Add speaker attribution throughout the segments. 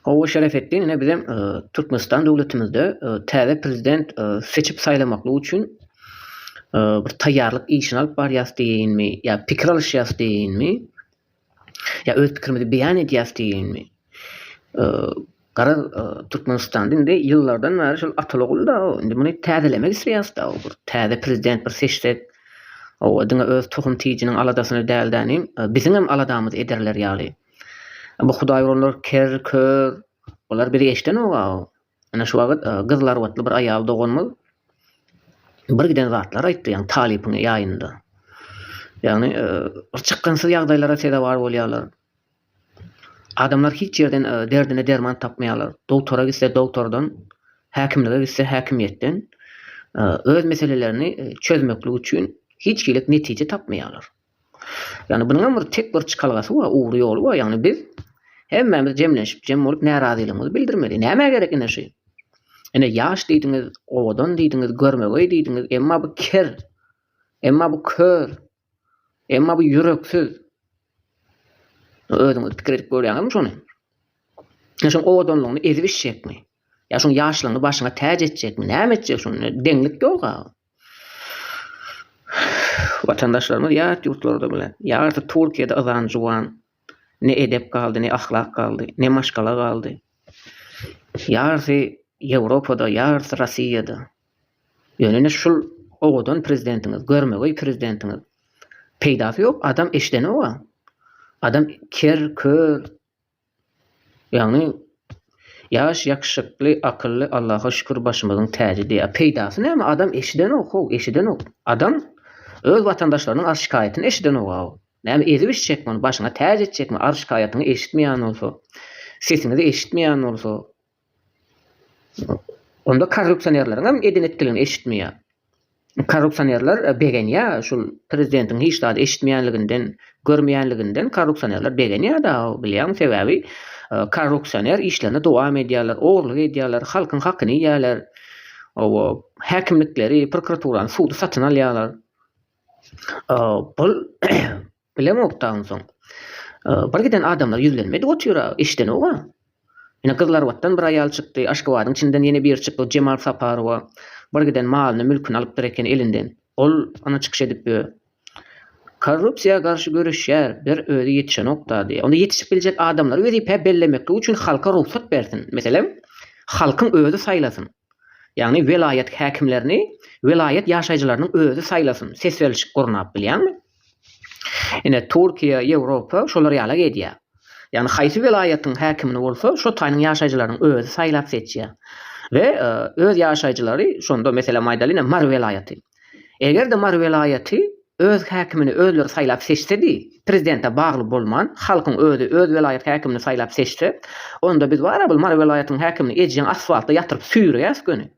Speaker 1: Gowy Şerefetdin ine bizem Türkmenistan döwletimizde täze prezident seçip saýlamaklyk üçin bir taýýarlyk işini alyp barýas diýinmi ýa pikir alyşýas diýinmi ýa öz pikirimizi beýan edýäs diýinmi Garaz Türkmenistan indi ýyllardan bäri şol ataly da indi muny täzelemek isleýäs da bir täze prezident bir seçsek o diňe öz tohum tijiniň aladasyny däl-de biziňem aladamyzy ederler ýaly. Bu hudaý urarlar ker, kör. Olar bizi eşdenok-a. Ine şu wagt gyzlar watly bir aýal doganymyz bir giden zatlar aýtdy, ýagny talypyň ýaýynda. Ýagny bir çykgynsyz ýagdaýlara sezewar bolýarlar. Adamlar hiç ýerden derdine derman tapmaýarlar. Dogtora gitse dogtordan, häkimlige gitse häkimiýetden öz meselelerini çözmeklik üçin hiç hili netije tapmaýarlar. Ýagny bunuň hem bir tek bir çykalgasy bar, ugry ýoly bar, ýagny biz hemmämiz jemlenşip, jem bolup närazylygymyzy bildirmeli. Nämä gerek ine şu? Ine ýaş diýdiňiz, owadan diýdiňiz, görmegeý diýdiňiz, emma bu ker, emma bu kör, emma bu ýüreksiz. Özüňiz pikir edip görýäňizmi şony? Ine şoň owadanlygyny ezip içjekmi? Ýa şoň ýaşlygyny başyňa täç etjekmi? Näme etjek şony? Deňlik ýok-a. Watandaşlarymyz ýat ýurtlarda bilen, ýarysy Türkiýede yzan juwan, ne edep galdy, ne ahlak galdy, ne maşgala galdy. Ýarysy Ýewropada, ýarysy Rossiýada. Ýöne ine şul owadan prezidentiňiz, görmegeý prezidentiňiz. Peýdasy ýok, adam eşdenok-a. Adam ker, kör. Ýagny ýaş ýakşykly akylly Allaha şükür başymyzyň täji diýýär. Peýdasy näme adam eşidenok how eşidenok. Adam öz watandaşlarynyň arz şikaýatyny eşidenok how. Näme ezip içjekmi ony başyňa täç etjekmi arz şikaýatyňy eşitmeýän bolsa. Sesiňizi eşitmeýän bolsa. Onda korrupsionerleriňem eden etdiligini eşitmeýär. Korrupsionerler begenýär şul prezidentiň hiç zady eşitmeýänliginden, görmeýänliginden korrupsionerler begenýär dagy bilýäňmi sebäbi korrupsioner işlerine dowam edýärler, ogurlyk edýärler, halkyň hakyny iýýärler. Owo häkimlikleri, prokuraturany, sudy satyn alýarlar. Bul Bilemok-da onsoň. Bir giden adamlar ýüzlenmedi otyra, eşidenog-a. Ine, Gyzlarbatdan bir aýal çykdy, Aşgabadyň içinden ýene biri çykdy, Jemal Saparowa. Bir giden malyny, mülküni alypdyr eken elinden. Ol, ana, çykyş edip ýör. Korrupsiýa garşy göreşýär, bir özi ýetişenok-da, diýýär. Onda ýetişip biljek adamlary wezipä bellemeklik üçin halka rugsat bersin. Meselem, halkyň özi saýlasyn. Ýagny welaýat häkimlerini welaýat ýaşaýjylarynyň özi saýlasyn. Ses berlişik gurnap bilýäňmi? Ine, Türkiýe, Ýewropa şolar ýala geýdýär. Ýagny haýsy welaýatyň häkimini bolsa, şo taýynyň ýaşaýjylarynyň özi saýlap seçýär. We öz ýaşaýjylary şonda meselem aýdaly ine Mary welaýaty. Eger-de Mary welaýaty öz häkimini özleri saýlap seçsedi, prezidente bagly bolman, halkyň özi öz welaýat häkimini saýlap seçse, onda biz bar-a bul Mary welaýatynyň häkimini ejeň asfaltda ýatyryp süýreýäs göni.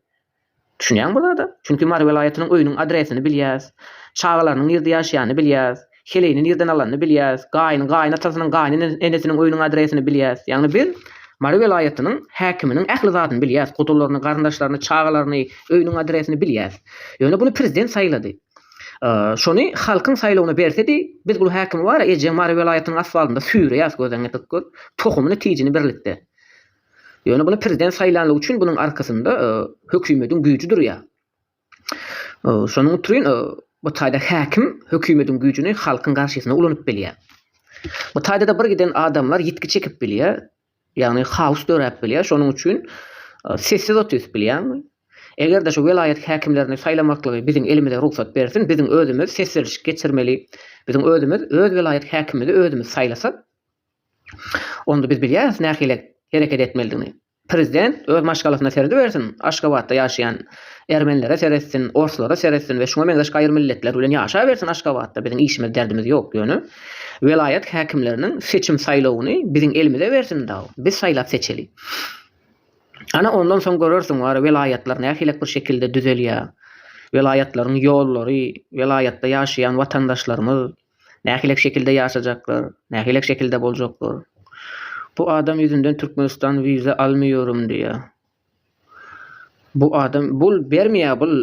Speaker 1: Düşünýäň bu zada? Çünki Mary welaýatynyň öýüniň adresini bilýäs. Çagalarynyň nirde ýaşaýanyny bilýäs. Heleýini nirden alanyny bilýäs. Gaýyny, gaýynatasynyň, gaýynenesiniň öýüniň adresini bilýäs. Ýagny biz Mary welaýatynyň häkiminiň ähli zadyny bilýäs. Gudularyny, garyndaşlaryny, çagalaryny, öýüniň adresini bilýäs. Ýöne buny prezident saýlady. Şony halkyň saýlawyna bersedi, biz bu häkimi bar-a ejeň Mary welaýatynyň asfaltynda süýreýäs, gözleňňe pyk gör. Tohumyny, tijini birlikde. Ýöne muny prezident saýlanlygy üçin bunuň arkasynda hökümediň güýji durýar. Şonuň üçin bu taýda häkim hökümediň güýjini halkyň garşysyna ulanyp bilýär. Bu taýda-da bir giden adamlar ýitgi çekip bilýär, ýagny haos döräp bilýär. Şonuň üçin sessiz otyryp bilýärmi? Eger-de şu welaýat häkimlerini saýlamaklygy biziň elimize rugsat bersin, biziň özümiz ses berişik geçirmeli. Biziň özümiz öz welaýat häkimimizi özümiz saýlasak, Onda biz bilýäris nähili hereket etmelidigini. Prezident öz maşgalasyna seredibersin, Aşgabatda ýaşaýan ermenlere seretsin, orslara seretsin we şuňa meňzeş gaýry milletler bilen ýaşabersin Aşgabatda biziň işimiz derdimiz ýok ýöne welaýat häkimleriniň seçim saýlawyny biziň elimize bersin dagy biz saýlap seçeli. Ana ondan soň görersiň wara welaýatlar nähilek bir şekilde düzelýär. Welaýatlaryň ýollary, welaýatda ýaşaýan watandaşlarymyz, Nähilek şekilde ýaşajaklar, nähilek şekilde boljaklar. Bu adam ýüzünden Türkmenistan wiza almýorym diýýär. Bu adam bul bermeýär bul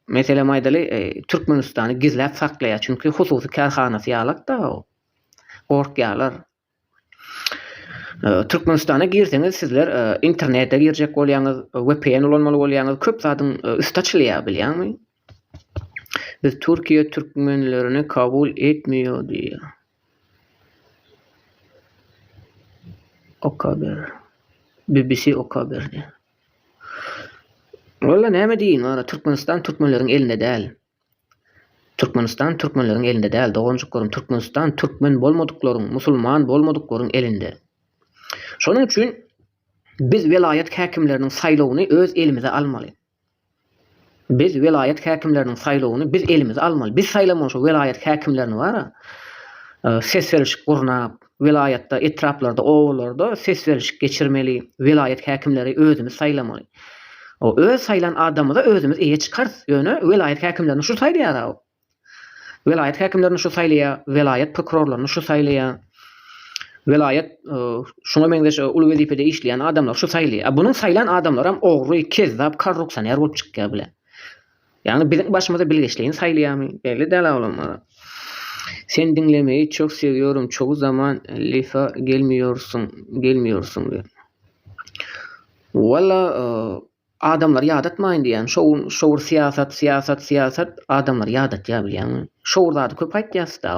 Speaker 1: meselem aýdaly e, Türkmenistany gizläp saklaýar. Çünki hususy kärhanasy ýalak da o. Gorkýarlar. Türkmenistana girseňiz sizler internete girjek bolýaňyz, vpn ulanmaly bolýaňyz, köp zadyň üsti açylýar bilýäňmi? Biz Türkiýe türkmenlerini kabul etmiýär diýýär. Okaber. BBC Okaber diýýär. Walla näme diýin, wara Türkmenistan türkmenleriň elinde däl. Türkmenistan türkmenleriň elinde däl doganjyklaryň Türkmenistan türkmen bolmadyklaryň musulman bolmadyklaryň elinde. Şonuň üçin biz welaýat häkimleriniň saýlawyny öz elimize almaly. Biz welaýat häkimleriniň saýlawyny biz elimize almaly. Biz saýlamaly şo welaýat häkimlerini bara ses berişik gurnap Welaýatda, etraplarda, obalarda ses berlişik geçirmeli, welaýat häkimleri özümiz saýlamaly. Öz saýlan adamymyza özümiz eýe çykarys, ýöne welaýat häkimlerini şu saýlaýar-a. Welaýat häkimlerini şu saýlaýar, welaýat prokurorlaryny şu saýlaýar. Welaýat şuňa meňzeş uly wezipede işleýän adamlary şu saýlaýar. A bunuň saýlan adamlaram ogry, kezzap, korrupsioner bolup çykýar bile. Ýagny biziň başymyza bilgeşleýin saýlaýamy belli däl awlamagy. Sen diňlemeyi çok seviyorum çogu zaman lifa gelmiyorsun gelmiyorsun diýen. Walla adamlary ýadatmaýyn diýýän. Şo gün şo bir syýasat syýasat syýasat adamlary ýadatýar bilýäňmi. Şo bir zady köp aýtýasda.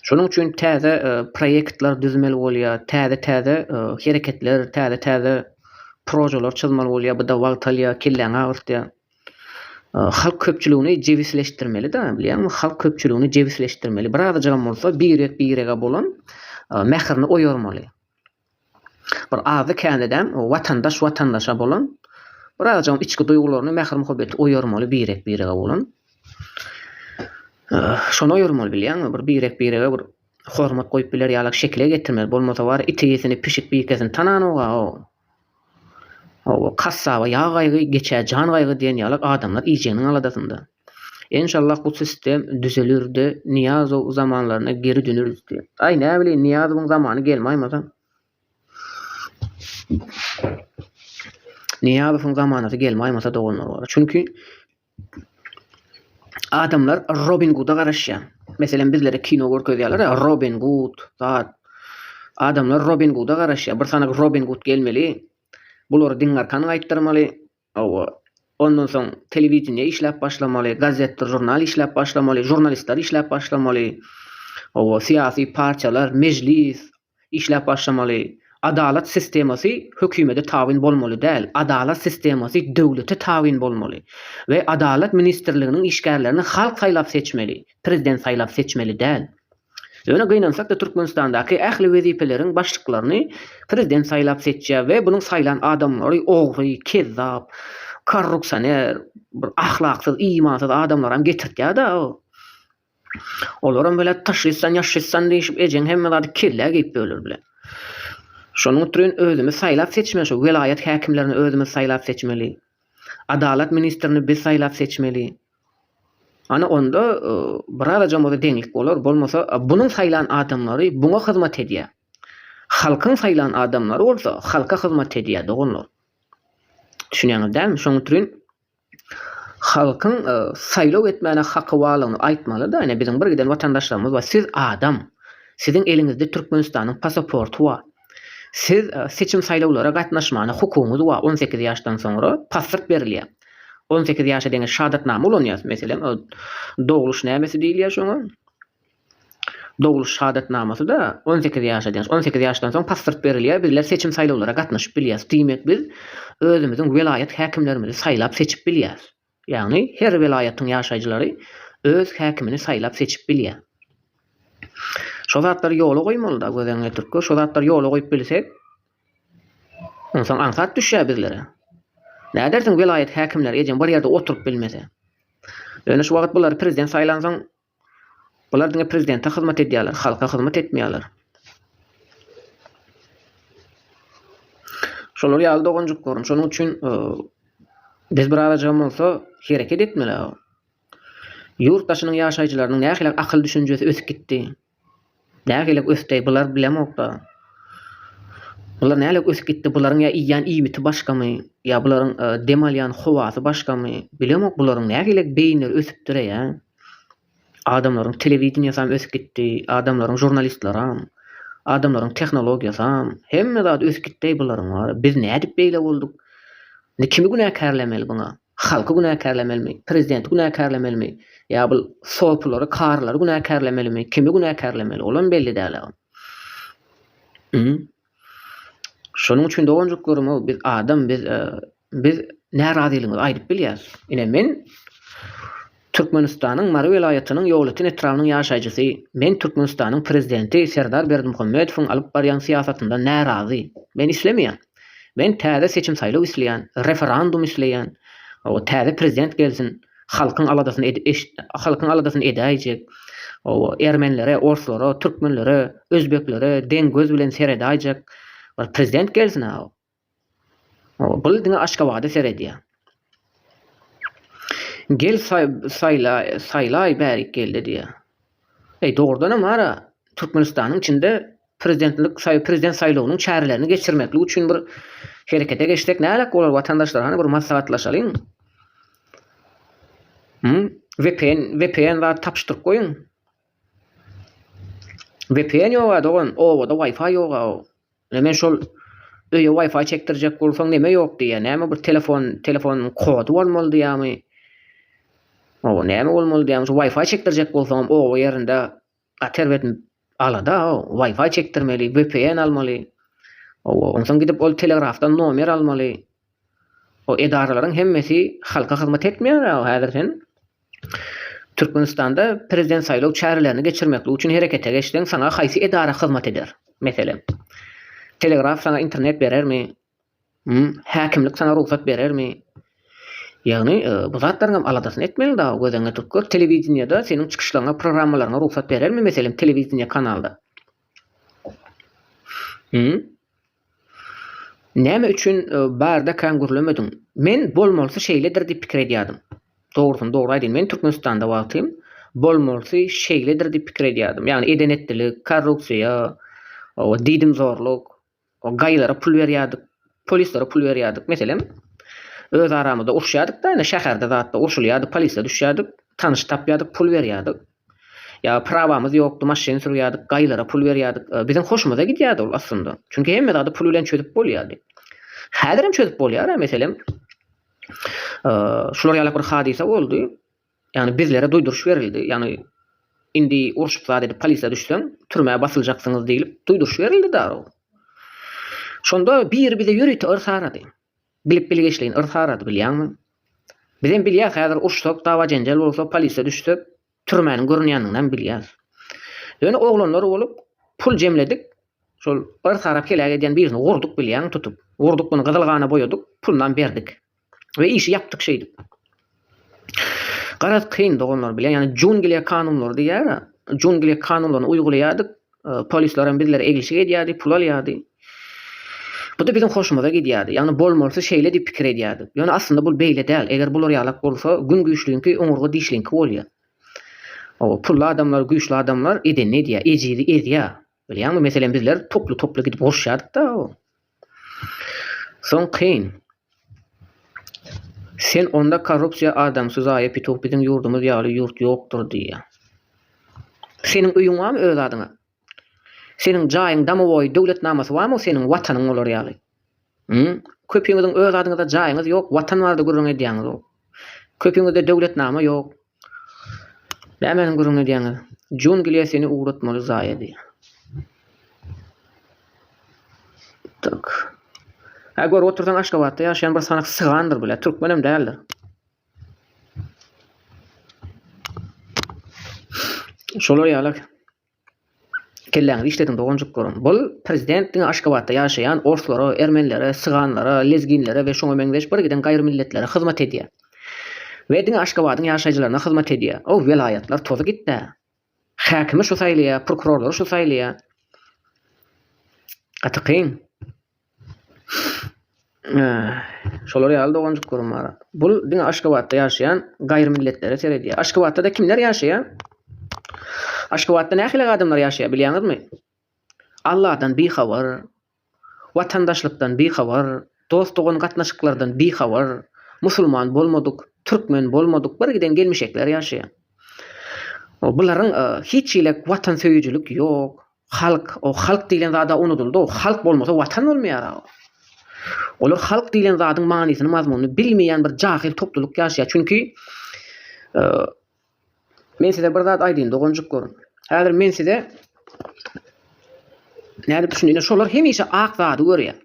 Speaker 1: Şonuň üçin täze proýektler düzmeli bolýar, täze-täze hereketler, täze-täze projeler çyzmaly bolýar, bu-da wagt alýar, kelläňi agyrtýar. Halk köpçüligini jebisleşdirmeli-de, bilýäňmi, halk köpçüligini jebisleşdirmeli. Birazajygam bolsa birek-birege bolan mährini oýarmaly. Bir azdy-kändedeň watandaş watandaşa bolan, birazajygam içki duýgularyny, mähir-muhabbeti oýarmaly birek-birege bolan. Şony oýarmaly bilýäňmi, bir birek-birege bir hormat goýup biler ýalak şekile getirmeli, bolmasa bar itisini, pişik-bikesini tananok-a o. O, kassaba ýag gaýgy, geçä jan gaýgy diýen ýalak adamlar iýjeginiň aladasynda. Enşallah bu sistem düzelirde Niýazow zamanlaryna geri döneris diýen. Aý näbileýin Niýazowyň zamany gelmaýmasam. Niýazowyň zamanasy gelmaýmasa doganlar bar. Çünki adamlar Robin Guda garaşýar. Meselem bizlere kino görkezýärler ya Robin Gud, zat. Adamlar Robin Guda garaşýar. Bir sanagy Robin Gud gelmeli. Bulary diňarkan gaýtdyrmaly. Hawa. Ondan soň telewideniýe işläp başlamaly, gazetdir žurnal işläp başlamaly, žurnalistler işläp başlamaly. Hawa, syýasy partiýalar, mejlis işläp başlamaly. Adalat sistemasy hökümede tabyn bolmaly däl, adalat sistemasy döwlete tabyn bolmaly we adalat ministrliginiň işgärlerini halk saýlap seçmeli, prezident saýlap seçmeli däl. Ýöne gynansak-da Türkmenistandaky ähli wezipeleriň başlyklaryny prezident saýlap seçýär we bunuň saýlan adamlary ogry, kezzap, korrupsioner, bir ahlaksyz, imansyz adamlaram getirtýär-da. Olaram belet taşşystan ýaşşystan diýşip ejeň hemme zady kellä geýip böler bilen. Şonuň ütrün özümiz saýlap seçmeli şu welaýat häkimlerini özümiz saýlap seçmeli. Adalat ministrini biz saýlap seçmeli. Ana onda birazajam bolsa deňlik bolar. Bolmasa bunuň saýlan adamlary buňa hyzmat edýär. Halkyň saýlan adamlary bolsa halka hyzmat edýär doganlar. Düşünýäňiz dälmi? Şoň üçin halkyň e, saýlaw etmäne haky barlygyny aýtmaly-da, ýöne biziň bir giden watandaşlarymyz bar. Siz adam. Siziň eliňizde Türkmenistanyň pasaporty bar. Siz seçim-saýlawlara gatnaşmana hukugyňyz wa on sekiz ýaşdan soňra pasport berilýär. On sekiz ýaşa deňiç şadatnama ulanýas, meselem, dogluş nämesi diýilýär şoňa, dogluş şadatnamasy-da on sekiz ýaşa deňiç. On sekiz ýaşdan soň pasport berilýär, bizler seçim-saýlawlara gatnaşyp bilýäs. Diýmek, biz özümiziň welaýat häkimlerimizi saýlap-seçip bilýäs. Ýagny her welaýatyň ýaşaýjylary öz häkimini saýlap seçip bilýär. Şo zatlary ýola goýmalyda göz öňüne getirip şo zatlary ýola goýup bilsek onsoň aňsat düşýär bizlere. Nädersiň welaýat häkimleri ejeň bir ýerde oturyp bilmese. Ýöne şu wagyt bulary prezident saýlansoň Bular diňe prezidente hyzmat edýärler, halka hyzmat etmeýärler. Şolar ýaly doganjyklaryň şonuň üçin biz bir azajygam bolsa hereket etmeli. Ýurt daşynyň ýaşaýjylarynyň nähili akyl düşünjesi ösüp gitdi. Nägelik ösdeý bular bilemokda. Bular nälik ösüp gitdi bularyň ýa iýýän iýmiti başgamy ýa bularyň dem alýan howasy başgamy bilemok bularyň nägelik beýinleri ösüpdireýa. Adamlaryň telewideniýasam ösüp gitdi adamlaryň žurnalistlaram adamlaryň tehnologiýasam hemme zady ösüp gitdeý bularyň wara biz nädip beýle bolduk indi kimi günäkärlemeli buňa. Halky günäkärlemelimi, prezidenti günäkärlemelimi, ýa bul sopulary, karylary günäkärlemelimi, kimi günäkärlemeli, olam belli däl agam. Hum. Şonuň üçin doganjyklaryma biz adam biz biz närazylygyňyzy aýdyp bilýäs. Ine men Türkmenistanyň Mary welaýatynyň Ýolöten etrabynyň ýaşaýjysy, Men Türkmenistanyň Prezidenti Serdar Berdimuhamedowyň alyp barýan syýasatyndan närazy. Men islemeýän. Men täze seçim-saýlaw isleýän, referendum isleýän. Hawa, täze prezident gelsin, halkyň aladasyny halkyň aladasyny edäýjek. Hawa, ermenilere, orslara, türkmenlere, özbeklere deň göz bilen seredäýjek bir prezident gelsin-ä. Ol diňe Aşgabada seredýär. Gel saýlaý bärik geldi diýýär. Eý dogrudanam ara Türkmenistanyň içinde prezidentlik prezident saýlawynyň çärelerini geçirmeklik üçin bir herekete geçsek näderek bolar watandaşlar hany bir maslahatlaşalyň. Hum vpn vpn zat tapyşdyryp goýuň. Vpn ýoga dogan obada wifi ýoga. Ine men şol öýe wifi çekdirjek bolsaň neme ýok diýýä näme bir telefon telefon kody bolmaly diýýämi oba näme bolmaly diýýämi şu wifi çekdirjek bolsaňam oba ýerinde gaty erbet alada wifi çekdirmeli vpn almaly oba onsoň gidip ol telegrafdan nomer almaly. O edaralaryň hemmesi halka hyzmat etmeýär a häzir sen Türkmenistanda prezident saýlaw çärelerini geçirmeklik üçin herekete geçseň saňa haýsy edara hyzmat eder meselem telegraf saňa internet berermi hum häkimlik saňa rugsat berermi ýagny bu zatlaryň hem aladasyny etmeli dagy göz öňüne tutup gör telewideniýede seniň çykyşlaryňa programmalaryňa rugsat berermi meselem telewideniýe kanalda hum. Näme üçin barda kän gürlemediň? Men bolmalysy şeýledir diýip pikir edýärdim. Dogrusyny dogry aýdaýyn, men Türkmenistanda wagtym bolmalysy şeýledir diýip pikir edýärdim. Ýagny eden-etdilik, korrupsiýa, diýdimzorluk, gaýylara pul berýärdik, polislere pul berýärdik. Meselem, öz aramyzda uruşýardyk-da, ine şäherde zatda urşulýardy, polise düşýärdik, tanyş tapýardyk, pul berýärdik. Ýa prawamyz ýokdy, maşyn sürýärdik, gaýylara pul berýärdik. Biziň hoşumyza gidýärdi ol aslynda. Çünki hemme zady pul bilen çözüp bolýardy. Häzirem çözüp bolýar-a, meselem, şular ýalak bir hadysa boldy. Ýagny bizlere duýduryş berildi. Ýagny indi urşup zat edip polise düşseň, türmä basyljaksyňyz diýlip duýduryş berildi darag. Şonda biri bize ýörite yrsarady. Bilip bilgeşleýin yrs arady bilýäňmi? Bizem bilýäs häzir urşsak dawa-jenjel bolsa polise düşsek türmäniň görünýändiginem bilýäs. Ýöne oglanlar bolup pul jemledik şol yrs arap heläk edýän birini gurduk bilýäňmi tutup. Gurduk muny gyzyl gana boýadyk pulynam berdik. We işi ýapdyk şeýdip. Garaz kyn doganlar bilen ýa jungliýa kanunlary diýýär a jungliýa kanunlaryny uýgulaýardyk polislerem bizlere eglişik edýärdi pul alýardy. Buda biziň hoşumyza gidýärdi ýagny bolmalysy şeýle diýip pikir edýärdik ýöne aslynda bul beýle däl eger bular ýalak bolsa gün güýçliňki oňurga dişliňki bolýar. Oba pully adamlar güýçli adamlar edenini edýär ejizi ezýär bilýäňmi meselem bizler toply toply gidip uruşýardyk da o. Soň kyn. Sen onda korrupsiýa adamsy zaýa pituh biziň ýurdumyz ýaly ýurt ýokdur diýýä. Seniň öýüň barmy öz adyňa? Seniň jaýyň domowoý döwletnamasy barmy seniň watanyň olar ýaly? Hum? Köpiňiziň öz adyňyza jaýyňyz ýok, watan barada gürrüň edýäňizok. Köpiňizde döwletnama ýok, Nämeni gürrüň edýäňiz? Jungliýa seni ugratmaly zaýady. Tak. Hä görüp otursaň Aşgabatda ýaşaýan bir sanak sygandyr bile, türkmenem däldir. Şolar ýalak. Kelläňizi işlediň doganjyklarym. Bul prezident diňe Aşgabatda ýaşaýan orslara, ermenilere, syganlara, lezginlere we şoňa meňzeş bir giden gaýrymilletlere hyzmat edýä. We diňe Aşgabadyň ýaşaýjylaryna hyzmat edýä. Ow welaýatlar tozy gitdä. Häkimi şu saýlaýa, prokurorlary şu saýlaýa. Gaty kyn. Şolar ýaly doganjyklarym bar. Bul diňe Aşgabatda ýaşaýan gaýry milletlere seredýär. Aşgabatda-da kimler ýaşaýar? Aşgabatda nähili adamlar ýaşaýar bilýäňizmi? Alladan bihabar, watandaşlykdan bihabar, dost-dogan gatnaşyklardan bihabar, musulman bolmadyk, türkmen bolmadyk birgiden gelmişekler ýaşaýar. Bularyň hiç hili watansöýüjilik ýok. Halk, o halk diýlen zad-a unudyldy, o halk bolmasa watan bolmaýar-a. Olar halk diýlen zadyň manysyny, mazmunyny bilmeýän bir jahyl toplulyk ýaşaýar. Çünki, men size bir zat aýdaýyn, doganjyk görüň. Häzir men size nädip düşündirýän, şolar hemişe ak zady görýär.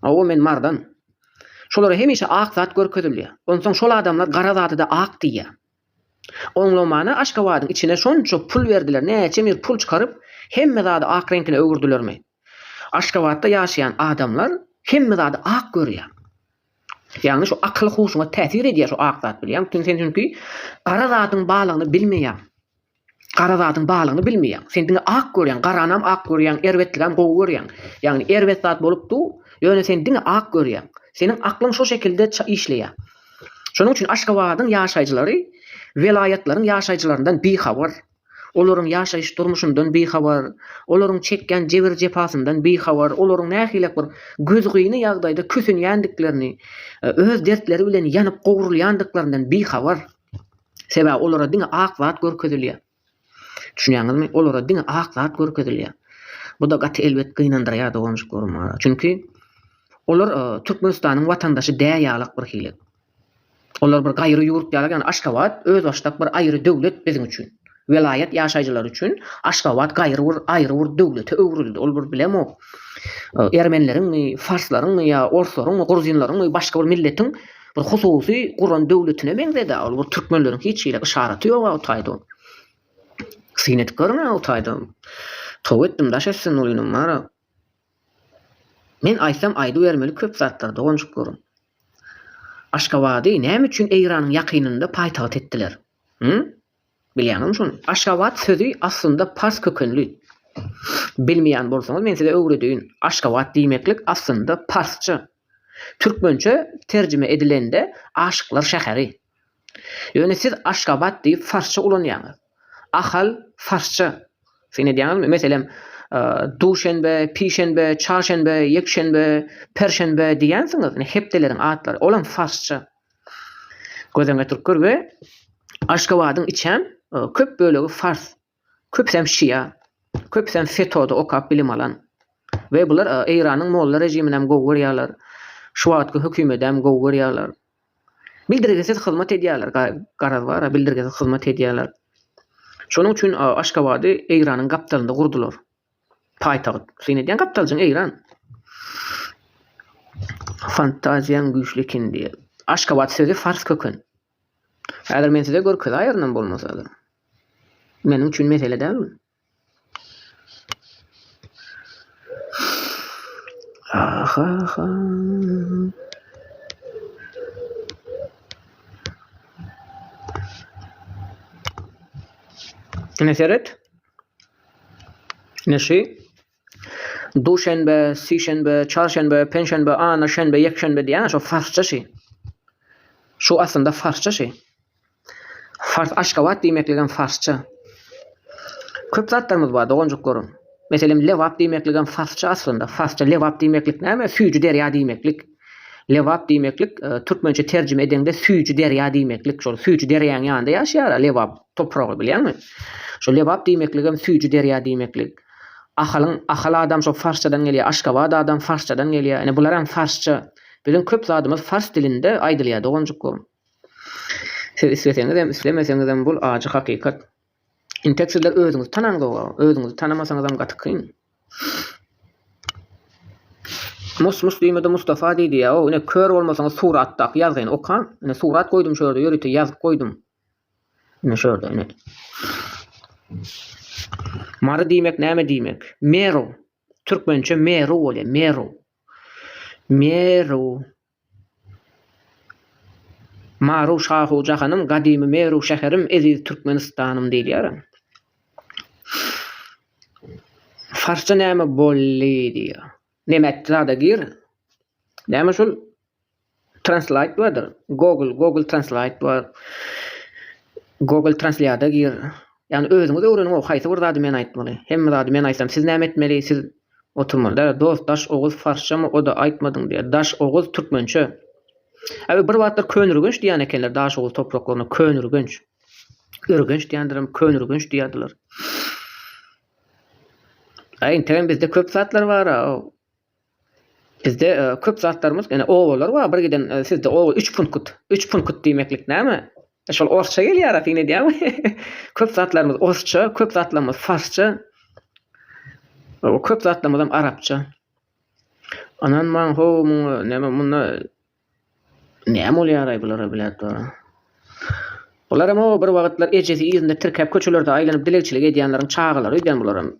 Speaker 1: Hawa, men mardan. Şolara hemişe ak zat görkezilýär. Onsoň şol adamlar gara zada-da ak diýýär. Oňlamana Aşgabadyň içine şonça pul berdiler, näçe mir pul çykaryp, hemme zady ak reňkine öwürdilermi? Aşgabatda ýaşaýan adamlar hemme zady ak görýär. Ýagny şu akyl huşuňa täsir edýär şu ak zat bilýäňmi? Çünki sen çünki gara zadyň balygyny bilmeýäň. Gara zadyň balygyny bilmeýäň. Sen diňe ak görýäň, garanam ak görýäň, erbetligem gowy görýäň. Ýagny erbet zat bolup dur, ýöne sen diňe ak görýäň. Seniň aklyň şo şekilde işleýär. Şonuň üçin Aşgabadyň ýaşaýjylary welaýatlaryň ýaşaýjylaryndan bihabar, olaryň ýaşaýyş durmuşyndan bihabar, olaryň çekýän jebir-jepasyndan bihabar, olaryň nähilek bir gözgyny ýagdaýda kösenýändiklerini, öz dertleri bilen ýanyp gowrulýandyklaryndan bihabar. Sebäbi olara diňe ak zat görkezilýär. Düşünýäňizmi? Olara diňe ak zat görkezilýär. Bu-da gaty elbet gynandyrýar doganjyklarymy. Çünki olar e, Türkmenistanyň watandaşy däl ýalak bir hili. Olar bir gaýry ýurt ýalak, ýagny Aşgabat özbaşdak bir aýry döwlet biziň üçin. Welaýat ýaşaýjylary üçin Aşgabat gaýry bir aýry bir döwlete öwrüldi. Ol bir bilemok. Ermenileriňmi, farslaryňmy ýa orslaryňmy, gruzinleriňmi başga bir milletiň bir hususy guran döwletine meňzedi-ä. Ol bir türkmenleriň hiç hili yşaraty ýog-a o taýda. Syn edip görüň-ä o taýda. Toba etdim daş etsin ol inim bar-a. Men aýtsam aýdybermeli köp zatlar doganjyk görüň. Aşgabady näme üçin Eýranyň ýakynynda paýtagt etdiler? Hü? Bilýäňizmi şony? Aşgabat sözi aslynda pars kökenli. Bilmeýän bolsaňyz, men size öwredeýin. Aşgabat diýmeklik aslynda parsça. Türkmençe terjime edilende aşyklar şäheri. Ýöne siz Aşgabat diýip farsça ulanýaňyz. Ahal farsça. Syn edýäňizmi? Meselem, duşenbe, pişenbe, çarşenbe, ýekşenbe, perşenbe diýýänsiňiz, ine hepdeleriň atlary. Olam farsça. Gözeňe türkler we Aşgabadyň içem köp bölegi fars, köpüsem şia, köpüsem FETO-da okap bilim alan we bular Eýranyň molla rejiminem gowy görýärler, şu wagtky hökümedem gowy görýärler. Bildirgisiz hyzmat edýärler, garaz bar-a, bildirgisiz hyzmat edýärler. Şonuň üçin Aşgabady Eýranyň gapdalynda gurdular. Paýtagt. Syn edýän gapdaljaň Eýran. Fantaziýaň güýçli ekin diýýär. Aşgabat sözi fars köken. Häzir men size görkezaýarynam bolmasa-da. Meniň üçin mesele däl bu. Aha-ha. Ine seret. Neşe, Duşenbe, Sişenbe, Çarşenbe, Penşenbe, Ana, Şenbe, Ýekşenbe diýýäň-ä şo farsça şi. Şu aslynda farsça şi. Fars Aşgabat diýmekligem farsça. Köp zatlarymyz bar doganjyklarym. Meselem Lebap diýmekligem farsça aslynda. Farsça Lebap diýmeklik näme? Süýji derýa diýmeklik. Lebap diýmeklik türkmençe terjime edeňde süýji derýa diýmeklik. Şol süýji derýaň ýanynda ýaşaýar-a Lebap topragy bilýäňmi? Şol Lebap diýmekligem süýji derýa diýmeklik. Ahalyň Ahal adam şol farsçadan gelýär. Aşgabat adam farsçadan gelýär. Ine bularam farsça. Biziň köp zadymyz fars dilinde aýdylýar doganjyklarym. Siz isleseňizem, islemeseňizem bul ajy hakykat. Intek sizler özüňizi tanaňzoga, özüňizi tanamasaňyzam gaty kyn. Mus mus diýmedi Mustafa diýdi ýa o ine kör bolmasaňyz suratdaky ýazgyny okaň. Ine surat goýdum şu ýerde ýörite ýazgyk goýdum. Ine şu ýerde ine. Mary diýmek näme diýmek? Meru. Türkmençe meru bolýar. Meru. Meru. Maru şahu jahanym, gadymy Meru şäherim, eziz Türkmenistanym diýilýär. Farsça näme bolly diýýär. Nemätdi zada gir. Näme şul translate bardyr. Google, Google translate bar. Google translýada gir. Ýagny özüňiz öwreniň o haýsy bir zady men aýtmaly. Hemme zady men aýtsam siz näme etmeli, siz Oturmaly däl dost daş oguz farsçamy oda aýtmadyň diýýär daş oguz türkmençe Abi bir wagtlar Könürgenç diýýän ekenler daş oguz topraklaryna Könürgenç Ürgenç diýendirem Könürgenç diýýärdiler Aý integem bizde köp zatlar bara Bizde e, köp zatlarymyz ene obalar bar bir giden e, sizde oba 3 punkut 3 punkut diýmeklik näme Şol orsça gelýara syn edýäň. Köp zatlarymyz orsça, köp zatlarymyz farsça. O köp zatlarymyzam arapça. Anan maň ho muňa näme munda näme bolýaraý bulara biläp dur. Bularam o bir wagtlar ejesi ýerinde tirkäp köçelerde aýlanyp dilegçilik edýänleriň çagalary öýdýän bularam.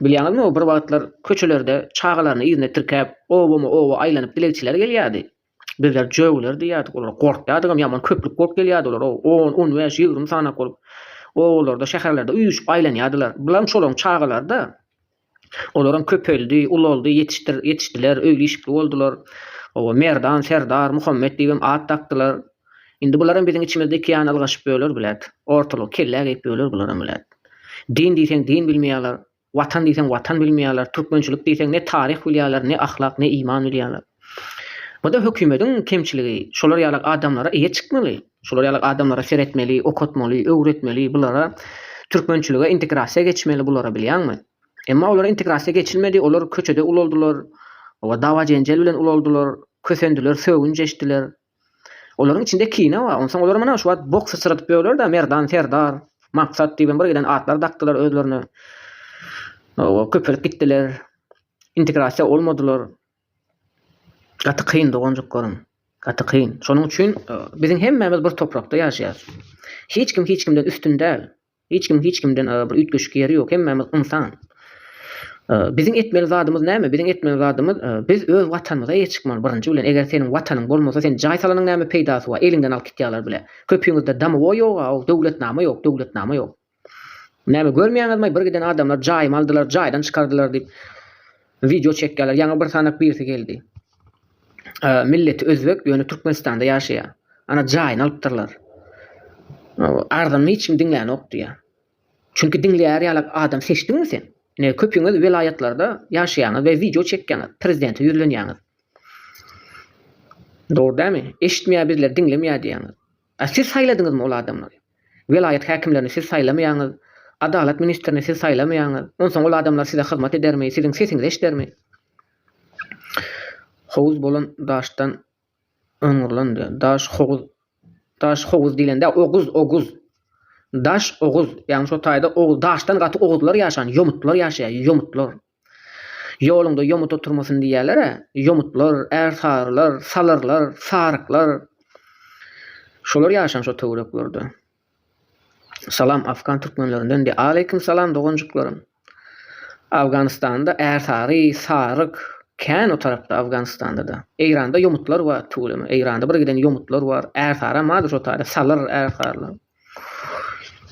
Speaker 1: Bilýäňizmi o bir wagtlar köçelerde çagalaryny ýerinde tirkäp obama oba aýlanyp dilegçiler gelýärdi. Bizler jögüler diýýärdik, olar gorkýardygam, ýaman köplük bolup gelýärdi olar, on, on bäş, ýigrimi sanaak bolup, obalarda, şäherlerde üýşüp aýlanýardylar. Bularam şolaryň çagalary-da. Olaram köpeldi, ulaldy, ýetişdir, ýetişdiler, öýli-işikli boldular. Oba, Merdan, Serdar, Muhammet diýibem at dakdylar. Indi bularam biziň içimizde iki ýana ylgaşyp ýörler, bilet. Ortalygy kellä geýip ýörler bularam, bilet. Din diýseň din bilmeýärler, Watan diýseň watan bilmeýärler, türkmençilik diýseň ne taryh bilýärler, ne ahlak, ne iman bilýärler. Bu-da hökümediň kemçiligi. Şolar ýalak adamlara eýe çykmaly. Şolar ýalak adamlara seretmeli, okatmaly, öwretmeli, bulara türkmençilige integrasiýa geçmeli bulara bilýäňmi? Emma olara integrasiýa geçilmedi, olar köçede ulaldylar, dawa-jenjel bilen ulaldylar, kösendiler, sögünç eşdiler, Olaryň içinde kine bar. Onsoň olar mana şu wagt bok syçradyp ýörler-de, Merdan Serdar, Maksat diýibem bir giden atlar dakdylar özlerine. Oba, köpelip gitdiler. Integrasiýa olmadylar. Gaty kyn doganjyklaryň. Gaty kyn. Şonuň üçin biziň hemmämiz bir toprakda ýaşaýarys. Hiç kim hiç kimden üstün däl. Hiç kim hiç kimden bir üýtgeşik ýeri ýok, hemmämiz ynsan. Biziň etmeli zadymyz näme? Biziň etmeli zadymyz biz öz watanymyza eýe çykmaly birinji bilen, eger seniň watanyň bolmasa sen jaý salanyň näme peýdasy bar, eliňden alyp gitýäler bile. Köpüňizde damowoý ýog-a, ow döwletnama ýok, döwletnama ýok. Näme görmeýäňizmaý bir giden adamlar jaýymy aldylar, jaýdan çykardylar diýip wideo çekýäler, ýaňy bir sanak birisi geldi. milleti özbek ýöne Türkmenistanda ýaşaýar. Ana jaýyny alypdyrlar. Arzanyny hiç kim diňlänok diýýär. Çünki diňleýär ýalak adam seçdiňmi sen? Ine köpüňiz welaýatlarda ýaşaýaňyz we wideo çekýäňiz, prezidente ýüzlenýäňiz. Dogry dämi? Eşitmeýär bizleri diňlemeýär diýýäňiz. A siz saýladyňyzmy ol adamlary? Welaýat häkimlerini siz saýlamaýaňyz, adalat ministrini siz saýlamaýaňyz, onsoň ol adamlar size hyzmat edermi, siziň sesiňizi eşidermi? Howuz bolan daşdan oňurlan diýýär. Daş howuz Daş howuz diýlende oguz, oguz. Daş oguz. Ýagny şo taýda oguz, daşdan gaty oguzlar ýaşan, ýomutlar ýaşaýar, ýomutlar. Ýoluňda ýomut oturmasyn diýýäler-ä, ýomutlar, ärsarylar, salyrlar, saryklar. Şolar ýaşan şo töwereklerde. Salam afgan türkmenlerinden diýýär. Aleýkum salam doganjyklarym. Afganystanda ärsary, saryk kän o tarapda Afganystanda-da. Eýranda ýomutlar bar tüweleme. Eýranda bir giden ýomutlar bar. Ärsaram bardyr şo taýda, salyr, ärsarylar.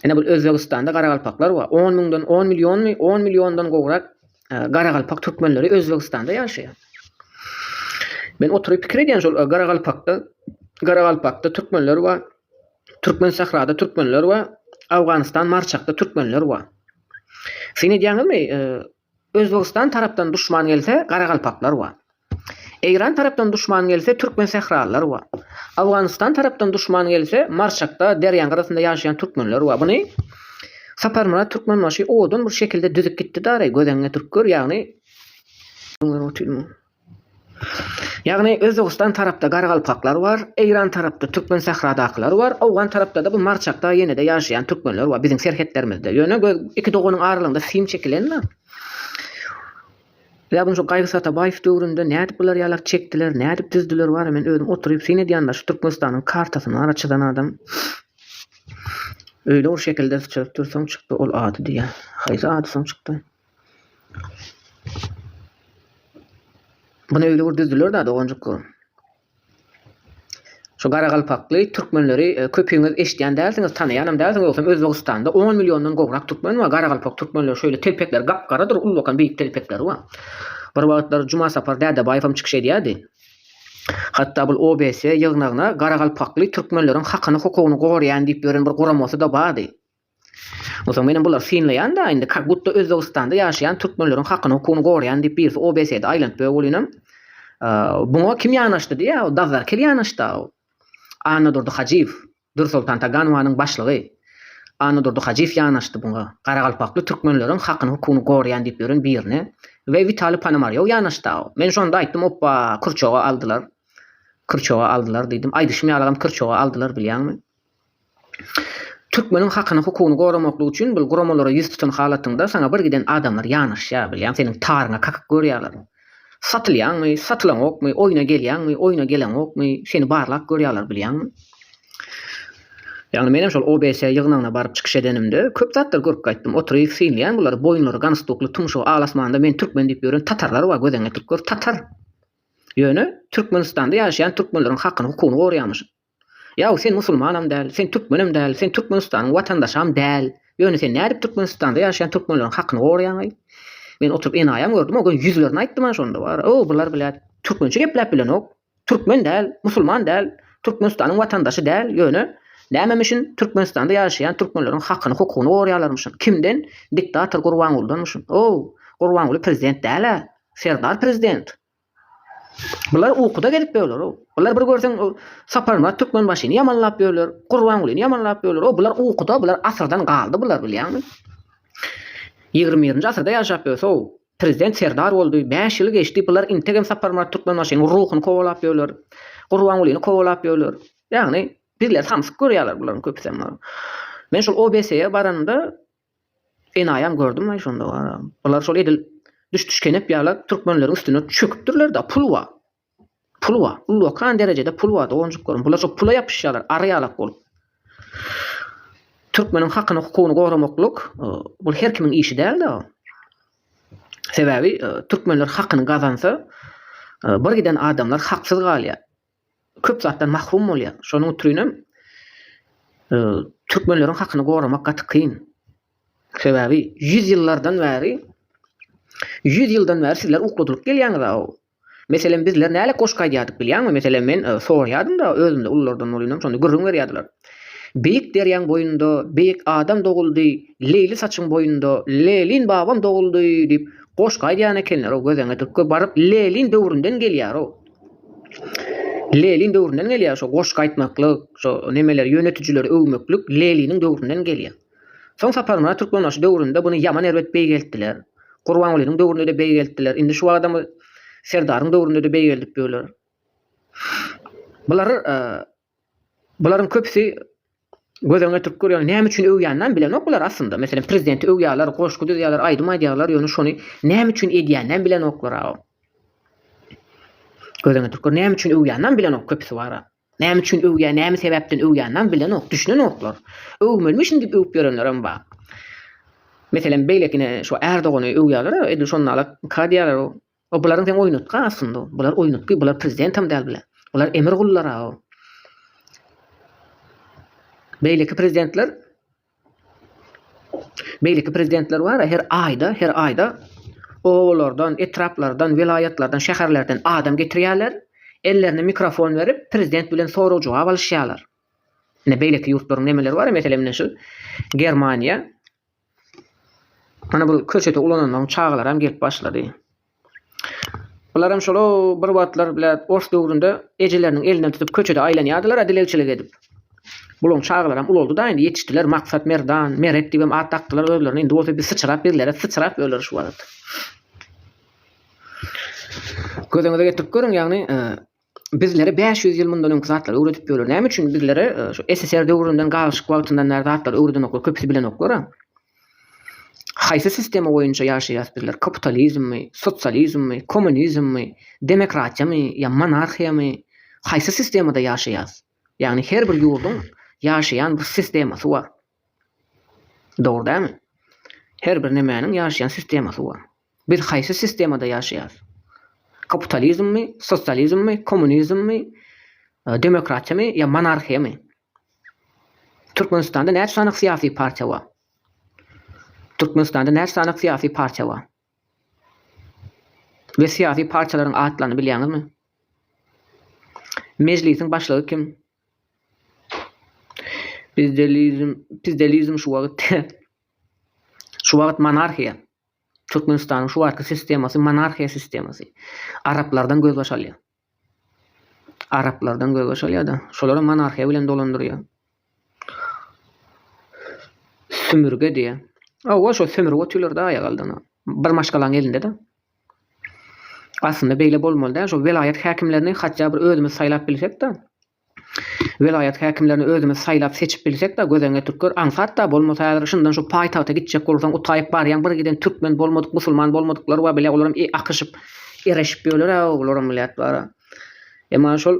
Speaker 1: Ine bul Özbegistanda garagalpaklar bar. On müňden, on millionmy, on milliondan gowrak e, garagalpak türkmenleri Özbegistanda ýaşaýar. Men oturyp pikir edýän şol e, garagalpakda, garagalpakda türkmenler bar. Türkmen sahrada türkmenler bar. Afganistan Marçakda türkmenler bar. Sen edýäňizmi? E, Özbegistan tarapdan duşman gelse garagalpaklar bar. Eýran tarapdan duşman gelse türkmen sähralylar bar. Awganystan tarapdan duşman gelse Marşakda derýaň gyrasynda ýaşaýan türkmenler bar. Buny Saparmyrat Türkmenbaşy owadan bir şekilde düzüp gitdi-dary göz öňüňe turup gör ýagny. Ýagny Özbegistan tarapda garagalpaklar bar, Eýran tarapda türkmen sähradakylar bar, Owgan tarapda-da bu Marçakda ýene-de ýaşaýan türkmenler bar, biziň serhetlerimizde. Ýöne göz iki doganyň aralygynda film çekilenmi? Ýa bunu şu Gaýgyt Atabaýew döwründe nädip bular ýalak çekdiler, nädip düzdüler bara men özüm oturyp syn edýända şu Türkmenistanyň kartasyny ara çyzan adam öýle bir şekilde çyzyp dursaň çykdy ol ady diýýä. Haýsy ady soň çykdy? Bunu öyle bir düzdüler da doganjyklar. Şu garagalpakly türkmenleri e, köpüňiz eşitýän dälsiňiz, tanaýanam dälsiňiz, ýogsam Özbegistanda 10 milliondan gowrak türkmen bar. Garagalpak türkmenler şöyle telpekler gap-garadyr, ulwakan beýik telpekleri bar. Bir wagtlar Juma Sapar Dädebaýew hem çykyş edýärdi. Hatda bu OBS ýygnagyna garagalpakly türkmenleriň hakyny hukugyny goraýan diýip ýören bir guramasy da bardy. Onsoň menem bulary synlaýan-da, indi kak butda Özbegistanda ýaşaýan türkmenleriň hakyny, hukugyny goraýan diýip birisi OBS-de aýlanyp bö bolýnam. Buňa kim ýanaşdy diýýä, o Dazzar Kel ýanaşdy-a o. Annadurdy Hajyýew, Dürsoltan Taganowanyň başlygy. Annadurdy Hajyýew ýanaşdy buňa, garagalpakly türkmenleriň hakyny, hukugyny goraýan diýip ýören birine. We Witaliý Ponomarýow ýanaşdy-a o. Men şonda aýtdym, Opba, kyrçoga aldylar. Kyrçoga aldylar diýdim. Aýdyşym ýalygam kyrçoga aldylar bilýäňmi? Türkmeniň hakyny hukugyny goramaklyk üçin bul guramalara ýüz tutan halatyňda saňa bir giden adamlar ýanaşýar bilýäň seniň taryňa kakyk görýärler. Satylýaňmy, satylaňokmy, oýna gelýäňmi, oýna geleňokmy, seni barlap görýärler bilýäňmi. Ýagny menem şol OBS ýygnagyna baryp çykyş edenimde köp zatlar görüp gaýtdym oturyp synlaýan bulary boýunlary ganstukly tumşugy al asmanda men türkmen diýip ýören tatarlar bar gözeňe türkler tatar ýöne Türkmenistanda ýaşaýan türkmenleriň hakyny hukugyny goraýamyşyn. Ýaw, sen musulmanam däl, sen türkmenem däl, sen Türkmenistanyň watandaşam däl. Ýöne sen nädip Türkmenistanda ýaşaýan türkmenleriň hakyny goraýaňaý? Men oturyp enaýam gördüm, o gün ýüzlerini aýtdym-a şonda bar. O, bular bilä türkmençe gepläp bilenok. Türkmen däl, musulman däl, Türkmenistanyň watandaşy däl, ýöne nämemişin Türkmenistanda ýaşaýan türkmenleriň hakyny, hukugyny goraýarlarmyşyn. Kimden? Diktator Gurbangulydanmyşyn. O, Gurbanguly prezident däl-ä. Serdar prezident. Bular ukuda gezip ýörler-ow. Bular bir görseň, o Saparmyrat Türkmenbaşyny ýamanlap ýörler, Gurbangulyny ýamanlap ýörler. O bular ukuda, bular asyrdan galdy bular, bilýäňmi? Ýigrimi birinji asyrda ýaşap ýörse-ow, prezident Serdar boldy, bäş ýyly geçdi, bular integem Saparmyrat Türkmenbaşynyň ruhuny kowalap ýörler, Gurbangulyny kowalap ýörler. Ýagny, bizleri samsyk görýärler bularyň köpüsem. Men şol OBSE-ýe baranymda, Enaýam gördüm-aý şonda wara. Bular şol edil düşdüşkenep ýala türkmenleriň üstüne çöküpdirler-de, pul wa. Pul wa. Ullakan derejede pul wa doganjyklarym. Bular şo pula ýapyşýarlar, ary-ýalak bolup. Türkmeniň hakyny, hukugyny goramaklyk, bul her kimiň işi däl-de. Sebäbi türkmenler hakyny gazansa, bir giden adamlar haksyz galýar. köp zatdan mahrum bolýar. Şonuň ütrinem türkmenleriň hakyny goramak gaty kyn. Sebäbi ýüz ýyllardan bäri, ýüz ýyldan bäri sizler ukladylyp gelýäňiz-aw. Meselem, bizler nälet goşgy aýdýardyk bilýäňmi? Meselem, men sorýardym-da özümde ululardan bolynym, şonda gürrüň berýärdiler. Beýik derýaň boýunda beýik adam doguldy, Leýli saçyň boýunda Lelin babam doguldy diýip, goşgy aýdýan ekenler-ow, göz-öňe baryp Lelin döwründen gelýär-ow. Lelin döwründen gelýär şo goşgy aýtmaklyk şo nemeler ýönetijileri öwmeklik leliniň döwründen gelýär. Soň saparmyrat türkmenbaşy döwründe buny ýaman erbet beýgeltdiler. Gurbangulynyň döwründede beýgeltdiler indi şu wagtam serdaryň döwründede beýgeldip ýörler. Bular Bularyň köpüsi göz öňüne getirip görýän, näme üçin öwýänini bilenok bular aslynda. Meselem, prezidenti öwýärler, goşgy düzýärler, aýdym aýdýarlar, ýöne şony näme üçin edýänini bilenoklar agam. Göz öňüne getirip gör, näme üçin öwýänini bilenok köpüsi bar. Näme üçin öwýär, näme sebäpden öwýänini bilenok, düşünenoklar. Öwmelimişin diýip öwüp ýörenlerem bar. Meselem, beýlekini şu Ärdogany öwýärler, edil şonda alat ka diýýärler, O bularyň sen oýnatgy aslynda bular oýnatgy bular prezidentem däl bile bular emir gullarao beýleki prezidentler beýleki prezidentler bara her aýda her aýda obalardan etraplardan welaýatlardan şäherlerden adam getirýärler ellerine mikrofon berip prezident bilen sorag jogap alyşýarlar ine beýleki ýurtlaryň nemeleri bara meselem ine şu germaniýa Ana bul köçeti ulanandan çagalaram gelip başlady. Bularam şolo bir wagtlar bile ors döwründe ejeleriniň elinden tutup köçede aýlanýardylar-a dilegçilik edip. Bulaň çagalaram ulaldy da indi ýetişdiler Maksat Merdan, Meret diýibem at dakdylar özlerine indi bolsa bir syçrap birlere syçrap öler şu wagt. Gözüňize getirip görüň ýagny bizlere bäş ýüz ýyl mundan öňki zatlary öwredip ýörler. Näme üçin bizlere e, şu SSR döwründen galyşyk wagtyndan bäri zatlary öwredenoklar, köpüsi bilenoklar-a. Haýsy sistema boýunça ýaşaýas bizler? Kapitalizmmi, sosializmmi, kommunizmmi, demokratiýamy ýa monarhiýamy? Haýsy sistemada ýaşaýas? Ýagny her bir ýurduň ýaşaýan bir sistemasy bar. Dogry dämi? Her bir nemäniň ýaşaýan sistemasy bar. Biz haýsy sistemada ýaşaýarys? Kapitalizmmi, sosializmmi, kommunizmmi, demokratiýamy ýa monarhiýamy? Türkmenistanda näçe sany syýasy partiýa bar? Türkmenistanda näçe sany syýasy partiýa bar? We syýasy partiýalaryň atlaryny bilýäňizmi? Mejlisiň başlygy kim? Pizdelizm, pizdelizm şu wagt şu wagt monarhiýa. Türkmenistanyň şu wagtky sistemasy monarhiýa sistemasy. Araplardan gözbaş alýar. Araplardan gözbaş alýar-da, şolary monarhiýa bilen dolandyrýar. Sümürge diýýär. Awa şo sümürge otyrlar-da aýak aldyna. Bir maşgalaň elinde-de. Aslynda beýle bolmaly däl şo welaýat häkimlerini hatja bir özümiz saýlap bilsekda welaýat häkimlerini özümiz saýlap seçip bilsekda gözeňe türkler aňsatda bolmasa häzir şundan şu paýtagta gitjek bolsaň utaýyp barýaň bir giden türkmen bolmadyk musulman bolmadyklar bar bile olaram akyşyp ereşip ýöler a olaram millet bara emma şol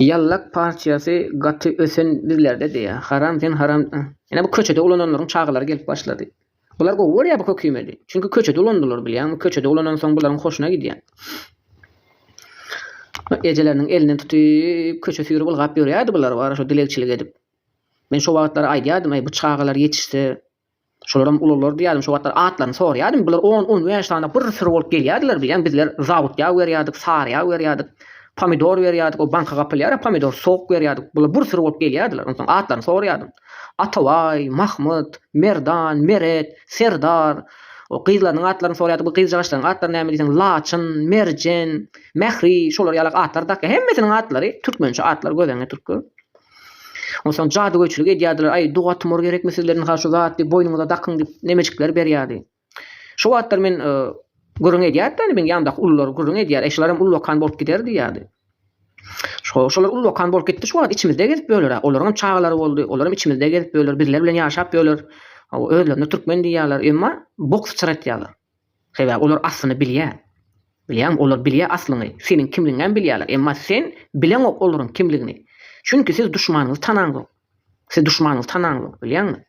Speaker 1: Ýallak partiýasy gaty ösen bizlerde diýýär. Haram sen haram. Ine bu köçede ulananlaryň çagalary gelip başlady. Bular gowy görýär bu kökimedi. Çünki köçede ulandylar bilýäňmi? Köçede ulanansoň bularyň hoşuna gidýär. Ejeleriniň elinden tutyp köçe süýrüp ylgap ýörýärdi bular bara şo dilegçilik edip. Men şo wagtlar aýdýardym, Aý bu çagalar ýetişse, Şolaram ulular diýýärdim, şo wagtlar atlaryny soraýardym. Bular on, on bäş sany bir syry bolup gelýärdiler. Bilýän bizler zabut ýag berýärdik, sary ýag berýärdik, pomidor berýärdik, o banka gapylýar-a pomidor, sok berýärdik. Bular bir syry bolup gelýärdiler. Onsoň atlaryny soraýardym. Atabaý, Mahmyt, Merdan, Meret, Serdar. O gyzlarynyň atlaryny soraýardyk. Bu gyzjagaçlaryň atlary näme diýseň, Laçyn, Merjen, Mähri, şolar ýalak atlar dakýar. Hemmesiniň atlary türkmençe atlar, göz öňüne türkler. Onsoň jadygöýçilik edýärdiler, aý, Dugotmur gerekmi sizleriň ha şu zatly boýnuňyza dakyň diýip, nemejikler berýärdi. Şo wagtlar men gürrüň edýärdi-de, meniň ýanymdaky ulular gürrüň edýär, eý, şularam ullakan bolup gider diýýärdi. Şo, şolar ullakan bolup gitdi, şu wagt içimizde gezip ýörler-ä, olaryňam çagalary boldy, olaram içimizde gezip ýörler, bizler bilen ýaşap ýörler, hawa, özlerine türkmen diýýärler, emma bok syçratýarlar. Sebäbi olar aslyny bilýär. Bilýäňmi, olar bilýär aslyňy. Seniň kimligiňem bilýärler. Emma sen bileňok olaryň kimligini. Çünki siz duşmanyňyzy tanaňzok. Siz duşmanyňyzy tanaňzok, bilýäňmi?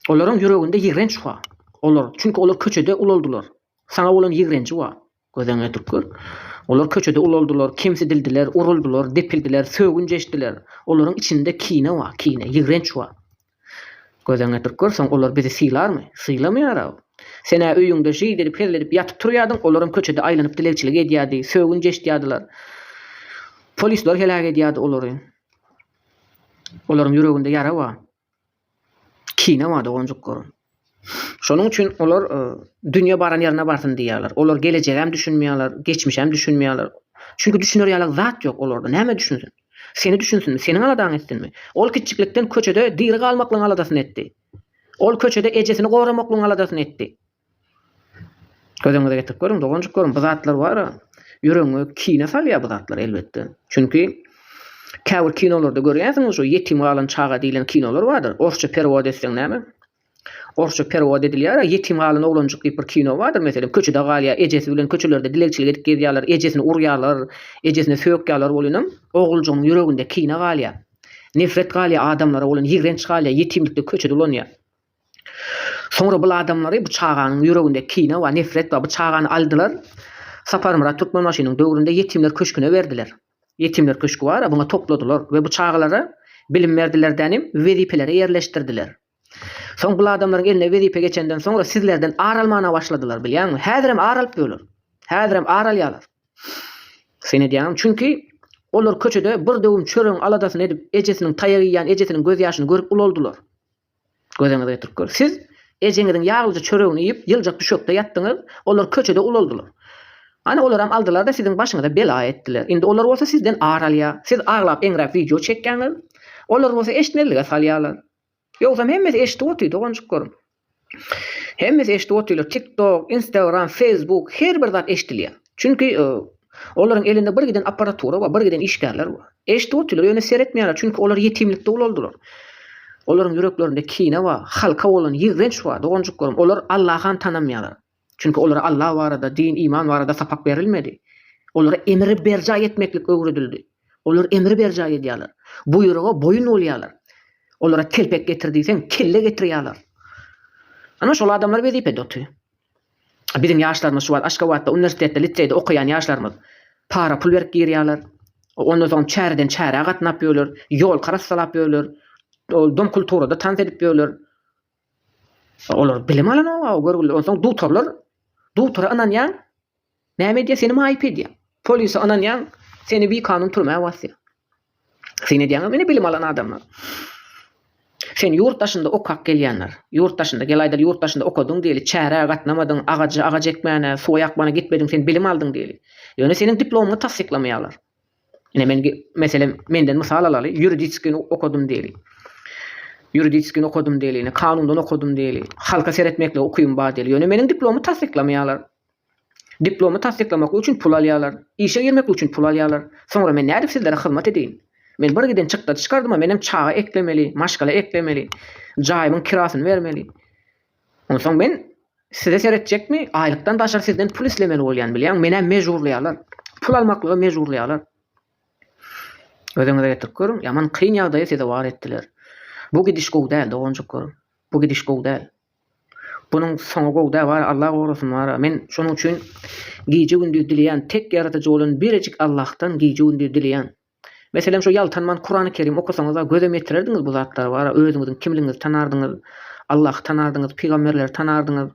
Speaker 1: Olaryň ýüreginde ýigrenç bar. Olar, çünki olar köçede ulaldylar. Saňa bolan ýigrenji bar. Gözeňe dykgyr. Olar köçede ulaldylar, kemsidildiler, uruldylar, depildiler, sögünç eşitdiler. Olaryň içinde kine bar, kine, ýigrenç bar. Gözeňe dykgyr, soň olar bizi sylarmy? Sylamaýar-aw. Sen-ä öýüňde jyýs edip, hezledip ýatyp turýardyň, olar hem köçede aýlanyp dilegçilik edýärdi, sögünç eşitýärdiler. Polisler heläk edýärdi olary. Olaryň ýüreginde ýara bar. Kine bar doganjyklaryň. Şonuň üçin olar dünýe baran ýerine barsyn diýýärler. Olar gelejegem düşünmeýärler, geçmişem düşünmeýärler. Çünki düşüner ýaly zat ýok olarda. Näme düşünsin? Seni düşünsinmi? Seniň aladaňy etsinmi? Ol kiçjiklikden köçede diri galmaklygyň aladasyny etdi. Ol köçede ejesini goramaklygyň aladasyny etdi. Gözüňize getirip görüň, doganjyklarym, bu zatlar bara ýüregiňe kine salýar bu zatlar elbetde. Çünki käbir kinolarda görýärsiňiz şu ýetim galan çaga diýlen kinolar bardyr. Orsça perewod etseň näme? Orsça perewod edilýär-ä, ýetim galan oglanjyk diýip bir kino bardyr meselem, köçede galýar, ejesi bilen köçelerde dilegçilik edip gezýärler, ejesini urýarlar, ejesine sökýärler bolan hem oguljygyň ýüreginde kine galýar. Nefret galýar adamlara bolan, ýigrenç galýar, ýetimlikde köçede ulanýar. Soňra bul adamlary bu çaganyň ýüreginde kine we nefret bar bu çagany aldylar Saparmyrat Türkmenbaşynyň döwründe ýetimler köşküne berdiler. Ýetimler köşki bar-a buňa topladylar we bu çagalara bilim berdiler dänim wezipelere ýerleşdirdiler. Soň bul adamlaryň eline wezipe geçenden soňra sizlerden ar almana başladylar bilýäňmi? Häzirem ar alyp ýörler. Häzirem ar alýarlar. Sen edýäňmi? Çünki olar köçede bir döwüm çöregiň aladasyny edip ejesiniň taýak iýýän ejesiniň gözýaşyny görüp ulaldylar. Gözeňize getirip gör. Siz ejeňiziň ýaglyja çöregini iýip, ýyljak düşekde ýatdyňyz, olar köçede ulaldylar. Hany olaram aldylar-da siziň başyňyza bela etdiler. Indi olar bolsa sizden ar alýar. Siz aglap-eňräp wideo çekýäňiz. Olar bolsa eşitmezlige salýarlar. Ýogsam hemmesi eşidip otyr doganjyklarym. Hemmesi eşidip otyrlar. Tik-tok, Instagram, Feýsbuk, her bir zat eşidilýär. Çünki Olaryň elinde bir giden apparatura bar, bir giden işgärler bar. Eşdip otylar, ýöne seretmeýärler, çünki olar ýetimlikde ulaldylar. Olaryň ýüreklerinde kine bar, halka bolan ýigrenç bar, doganjyklarym, olar Allahan tanamaýarlar. Çünki olara Alla barada, din, iman barada sapak berilmedi. Olara emri berjaý etmeklik öwredildi. Olar emri berjaý edýärler. Buýruga boýun bolýarlar. Olara telpek getir diýseň, kelle getirýärler. Ana şol adamlar wezipede otyr. Biziň ýaşlarymyz şu wagt Aşgabatda uniwersitetde, liseýde okaýan ýaşlarymyz para pul berip girýärler. Ondan soň çäreden çärä gatnap ýörler, ýolka arassalap ýörler. Ol dom kulturada tans edip ýörler. Olar bilim alanok görgüli. Onsoň dugtarlar, dugtara ynanýaň, Näme edýä seni maýyp edýä. Polise ynanýaň seni bi kanun türmä basýa. Syn edýäňem ine bilim alan adamlar. Sen ýurt daşynda okak gelýänler. Ýurt daşynda gel aýdaly ýurt daşynda okadyň diýeli çärä gatnamadyň agajy agaç ekmäne suwa ýakmana gitmediň sen bilim aldyň diýeli. Ýöne seniň diplomyňy tassyklamaýalar. Ine men meselem menden mysal alaly ýuridiskini okadym diýeli. Ýuridiskini okadym diýeli ine kanundan okadym diýeli. Halka seretmekligi ukybyň bar diýeli. Ýöne meniň diplomy tassyklamaýalar. Diplomy tassyklamaklyk üçin pul alýarlar. Işe girmeklik üçin pul alýarlar. Soňra men nädip sizlere hyzmat edeýin? Men bir giden çykdajy çykardym-a, menem çaga eklemeli, maşgala eklemeli, jaýymyň kirasyny bermeli. Onsoň men size seretjekmi? Aýlykdan daşary sizden pul islemeli bolýan, bilýäň, menä mejburlaýarlar. Pul almaklyga mejburlaýarlar. Özüňize getirip görüň, ýaman kyn ýagdaýa sezewar etdiler. Bu gidiş gowy däl, doganjyk görüm. Bu gidiş gowy däl. Bunuň soňy gowy dä bar Allah gorasyn bara men şonuň üçin gije gündiz dileýän tek ýaradyjy bolan birejik Allahdan gije gündiz dileýän meselem şo ýaltanman kurany kerim okasaňyzda gözem ýetirerdiňiz bu zatlar bara özüňiziň kimligiňizi tanardyňyz Allahy tanardyňyz pygamberleri tanardyňyz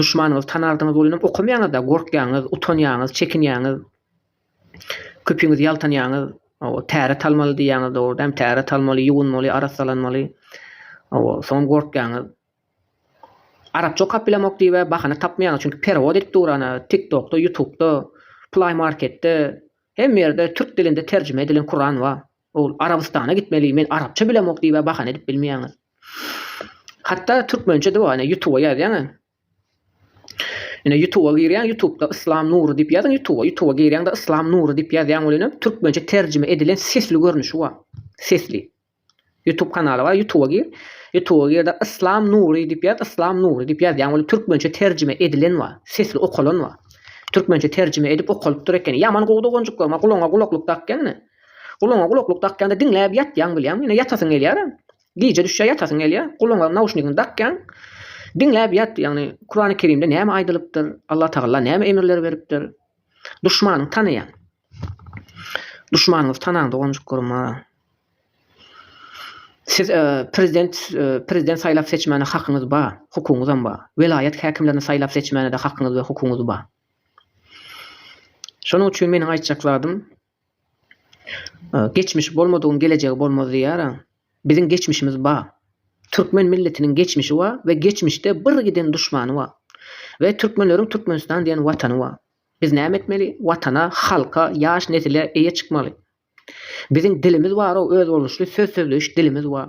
Speaker 1: duşmanyňyzy tanardyňyz ol inem okamaýaňyzda gorkýaňyz utanýaňyz çekinýaňyz. Köpüňiz ýaltanýaňyz. Hawa, täret almaly diýýäňiz, dogry däm? Täret almaly, ýuwunmaly, arassalanmaly. Hawa, soňam gorkýaňyz. Arapça okap bilemok diýib-ä bahana tapmaýaňyz, çünki perewod edip dur ana, TikTokda, Ýutubda, Play Marketde, hemme ýerde türk dilinde terjime edilen Kuran bar. Ol Arabystana gitmeli, men arapça bilemok diýib-ä bahana edip bilmeýäňiz. Hatda türkmençe-de bar, ine, Ýutuba ýazýaň-a, Ine ýutuba girýäň ýutubda yslam nury diýip ýazyň ýutuba ýutuba girýäňde yslam nury diýip ýazýaň welin hem türkmençe terjime edilen sesli görnüşi bar sesli ýutub kanaly bar ýutuba gir ýutuba girde yslam nury diýip ýaz yslam nury diýip ýazýaň welin türkmençe terjime edilen bar sesli okalan bar türkmençe terjime edip okalypdyr ekeni ýaman gowy doganjyklar maňa gulagyňa gulaklyk dakýaň ine gulagyňa gulaklyk dakýaňda diňläp ýatýaň bilýäňmi ine ýatasyň gelýärem Gije düşýä ýatasyň gelýä, gulagyňa nauşnigiňi dakýaň, diňläp ýat, ýagny Kurany Kerimde näme aýdylypdyr, Allah Tagalla näme emirler beripdir. Duşmanyňy tanaýaň. Duşmanyňyzy tanaň doganjyklaryma. Siz prezident prezident saýlap seçmäne hakyňyz bar, hukugyňyzam bar. Welaýat häkimlerini saýlap seçmäne-de hakyňyz we hukugyňyz bar. Şonuň üçin meniň aýtjak zadym, Geçmiş bolmadygyň gelejegi bolmaz diýýäraň. Biziň geçmişimiz bar. Türkmen milletiniň geçmişi bar we geçmişde bir giden duşmany bar. We türkmenleriň Türkmenistan diýen watany bar. Biz näme etmeli? Watana, halka, ýaş nesile eýe çykmaly. Biziň dilimiz bar-ow, özboluşly söz sözleýiş dilimiz bar.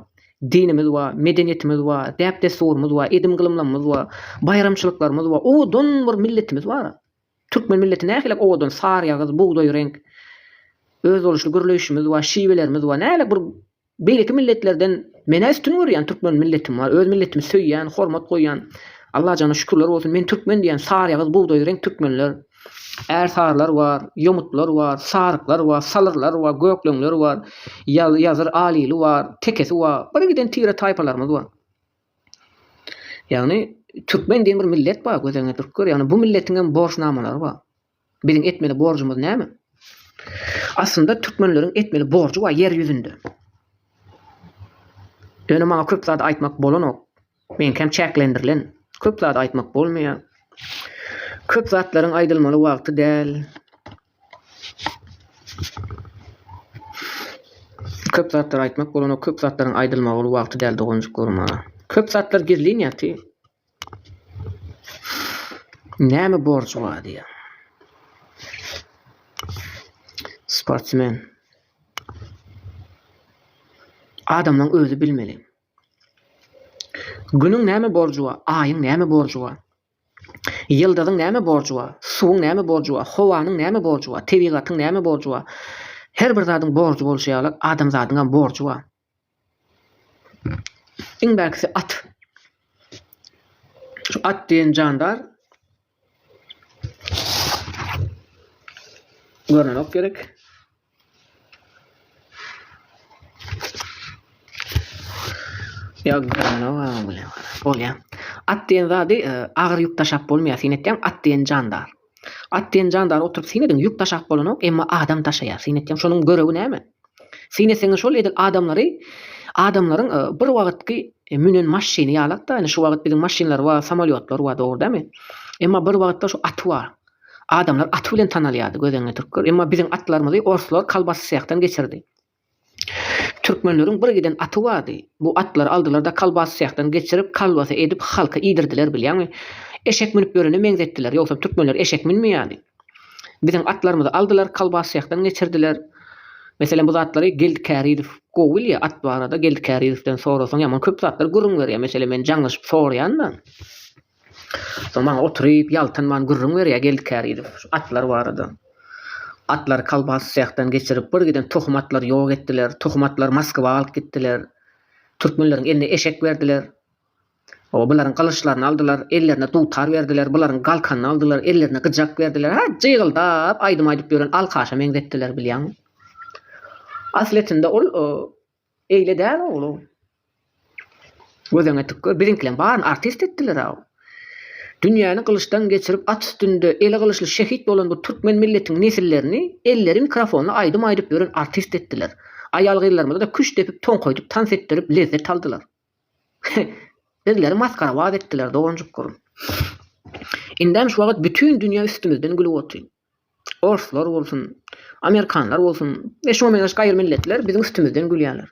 Speaker 1: Dinimiz bar, medeniýetimiz bar, däp-dessurymyz bar, edim-gylymlamymyz bar, baýramçylyklarymyz bar. Owadan bir milletimiz bar. Türkmen milleti nähilek owadan saryýagyz, bugdaý reňk, özboluşly gürleýşimiz bar, şiwelerimiz bar. Nähilek bir beýleki milletlerden menä üstün görýän türkmen milletim bar. Öz milletimi söýýän, hormat goýýan. Allajana şükürler bolsun, men türkmen diýýän saryýagyz, bugdaý reňk türkmenler. Ärsarylar bar, ýomutlar bar, saryklar bar, salyrlar bar, gökleňler bar, ýazyr alili bar, tekesi bar. Birgiden tire-taýpalarymyz bar. Ýagny türkmen diýen bir millet bar göz öňüne tutup gör, ýagny bu milletiňem borçnamalary bar. Biziň etmeli borjumyz näme? Aslynda türkmenleriň etmeli borjy bar ýer ýüzünde. Ýöne maňa köp zady aýtmak bolanok. Meňkem çäklendirilen. Köp zady aýtmak bolmaýar. Köp zatlaryň aýdylmaly wagty däl. Köp zatlar aýtmak bolanok köp zatlaryň aýdylmagyl wagty däl doganjyklarym a. Köp zatlar gizlin ýaty. Näme borjy bar diýä. Sportsmen. Adamlaň özi bilmeli. Günüň näme borjy bar, aýyň näme borjy bar. Ýyldyzyň näme borjy bar? Suwuň näme borjy bar? Howanyň näme borjy bar? Tebigatyň näme borjy bar? Her bir zadyň borjy bolşy ýaly, adamzadyňam borjy bar. Iň bärkisi at. Şu at diýen jandar görnenok gerek. Bolýar. At diýen zady e, agyr ýük daşap bolmaýar. Sen etýän at diýen jandar. At diýen jandar oturyp sen ediň ýük daşap bolanok, emma adam daşaýar. Sen etýän şonuň görewi näme? Sen etseňe şol edil adamlary adamlaryň e, bir wagtky e, münen maşyny ýalak da, ýani şu wagt biziň maşynlar bar, samolýotlar bar, dogry dämi? Emma bir wagtda şu aty bar. Adamlar aty bilen tanalýardy, gödeňli türkler. Emma biziň atlarymyzy orslar kolbasysýakdan geçirdi. Türkmenleriň bir giden aty bardy. Bu atlary aldylar-da kolbasysýakdan geçirip, kolbasa edip halka iýdirdiler, bilýäňmi? Eşek münüp ýörene meňzetdiler. Ýogsam türkmenler eşek münmeýärdi. Biziň atlarymyzy aldylar, kolbasysýakdan geçirdiler. Meselem, bu zatlary Geldi Kärizow gowy bilýär. At barada Geldi Kärizowden sorasaň ýaman köp zatlary gürrüň berýär. Meselem, men jaňlaşyp soraýan-da. Soň maňa oturyp, ýaltanman gürrüň berýär Geldi Kärizow şu atlar barada. Atlary kolbas sehden geçirip, bir giden tohum atlary ýok etdiler. Tohum atlary Moskwa alyp gitdiler. Türkmenleriň eline eşek berdiler. Hawa, bularyň gylyçlaryny aldylar, ellerine dutar berdiler, bularyň galkanyny aldylar, ellerine gyjak berdiler. Hä, jygyldap aýdym aýdyp ýören alkaşa meňzetdiler, bilýäňmi? Aslyýetinde ol Eýle däl oglum. Gözeňe tükger, biziňkileň baryny artist etdiler-aw. Dünýäni gylyçdan geçirip, at üstünde, eli gylyçly şehit bolan bu türkmen milletiň nesillerini elleri mikrofonly aýdym aýdyp ýören artist etdiler. Aýal-gyzlarymyza-da küşt depip, toňkaýdyp, tans etdirip, lezzet aldylar. Bizleri masgarabaz etdiler, doganjykgyrym. Indem şu wagt bütin dünýä üstümizden gülüp otyn. Orslar bolsun, amerikanlar bolsun we şuňa meňzeş gaýry milletler biziň üstümizden gülýärler.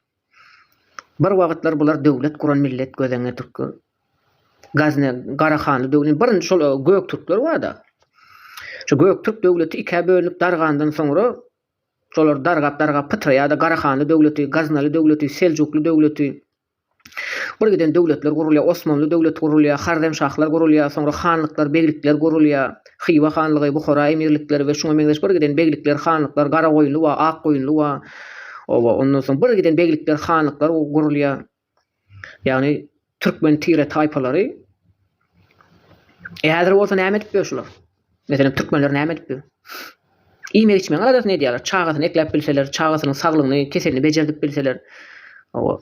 Speaker 1: Bir wagtlar bular döwlet guran millet gözeňňe türkler. Gazne, Garahanly döwrüniň birinji şol Göktürkler bar-da. Şu Göktürk döwleti ikä bölünip dargandan soňra şolar dargap-dargap pytraýar-da Garahanly döwleti, Gaznaly döwleti, Seljukly döwleti. Bir giden döwletler gurulýar, Osmanly döwleti gurulýar, Harremşahlar gurulýar, soňra hanlyklar, beglikler gurulýar, Hywa hanlygy, Buhara emirlikleri we şuňa meňzeş bir giden beglikler, hanlyklar, Garagoýunly wa Akgoýunly wa, oba, ondan soň bir giden beglikler, hanlyklar gurulýar. Ýagny türkmen tire-taýpalary. E häzir bolsa näme edipdir şular? Meselem, türkmenler näme edipdir? Iýmek-içmegiň aladasyny edýärler. Çagasyny ekläp bilseler, çagasynyň saglygyny, keselini bejerdip bilseler. Hawa.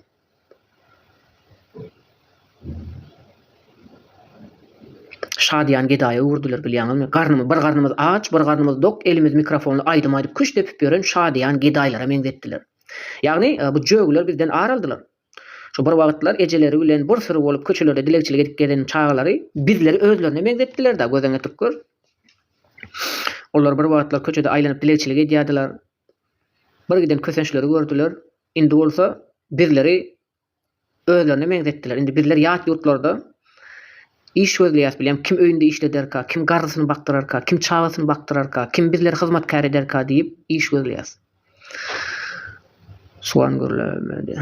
Speaker 1: Şadyýan gedaýa öwürdiler, bilýäňizmi? Garnymy, bir garnymyz aç, bir garnymyz dok, elimiz mikrofonly aýdym aýdyp küşt depip ýören şadyýan gedaýlara meňzetdiler. Ýagny, bu jögiler bizden ar aldylar. Şu bir wagtlar ejeleri bilen bir süri bolup köçelerde dilegçilik edip gezen çagalary bizleri özlerine meňzetdiler-dä, gözüňe tükür. Olar bir wagtlar köçede aýlanyp dilegçilik edýärdiler. Bir giden kösençleri gördüler. Indi bolsa bizleri özlerine meňzetdiler. Indi bizler ýat ýurtlarda iş gözleýäs bilýän, kim öýünde işlederka, kim garrysyny bakdyrarka, kim çagasyny bakdyrarka, kim bizleri hyzmatkär ederka diýip iş gözleýäs. Suwan gürlemedi.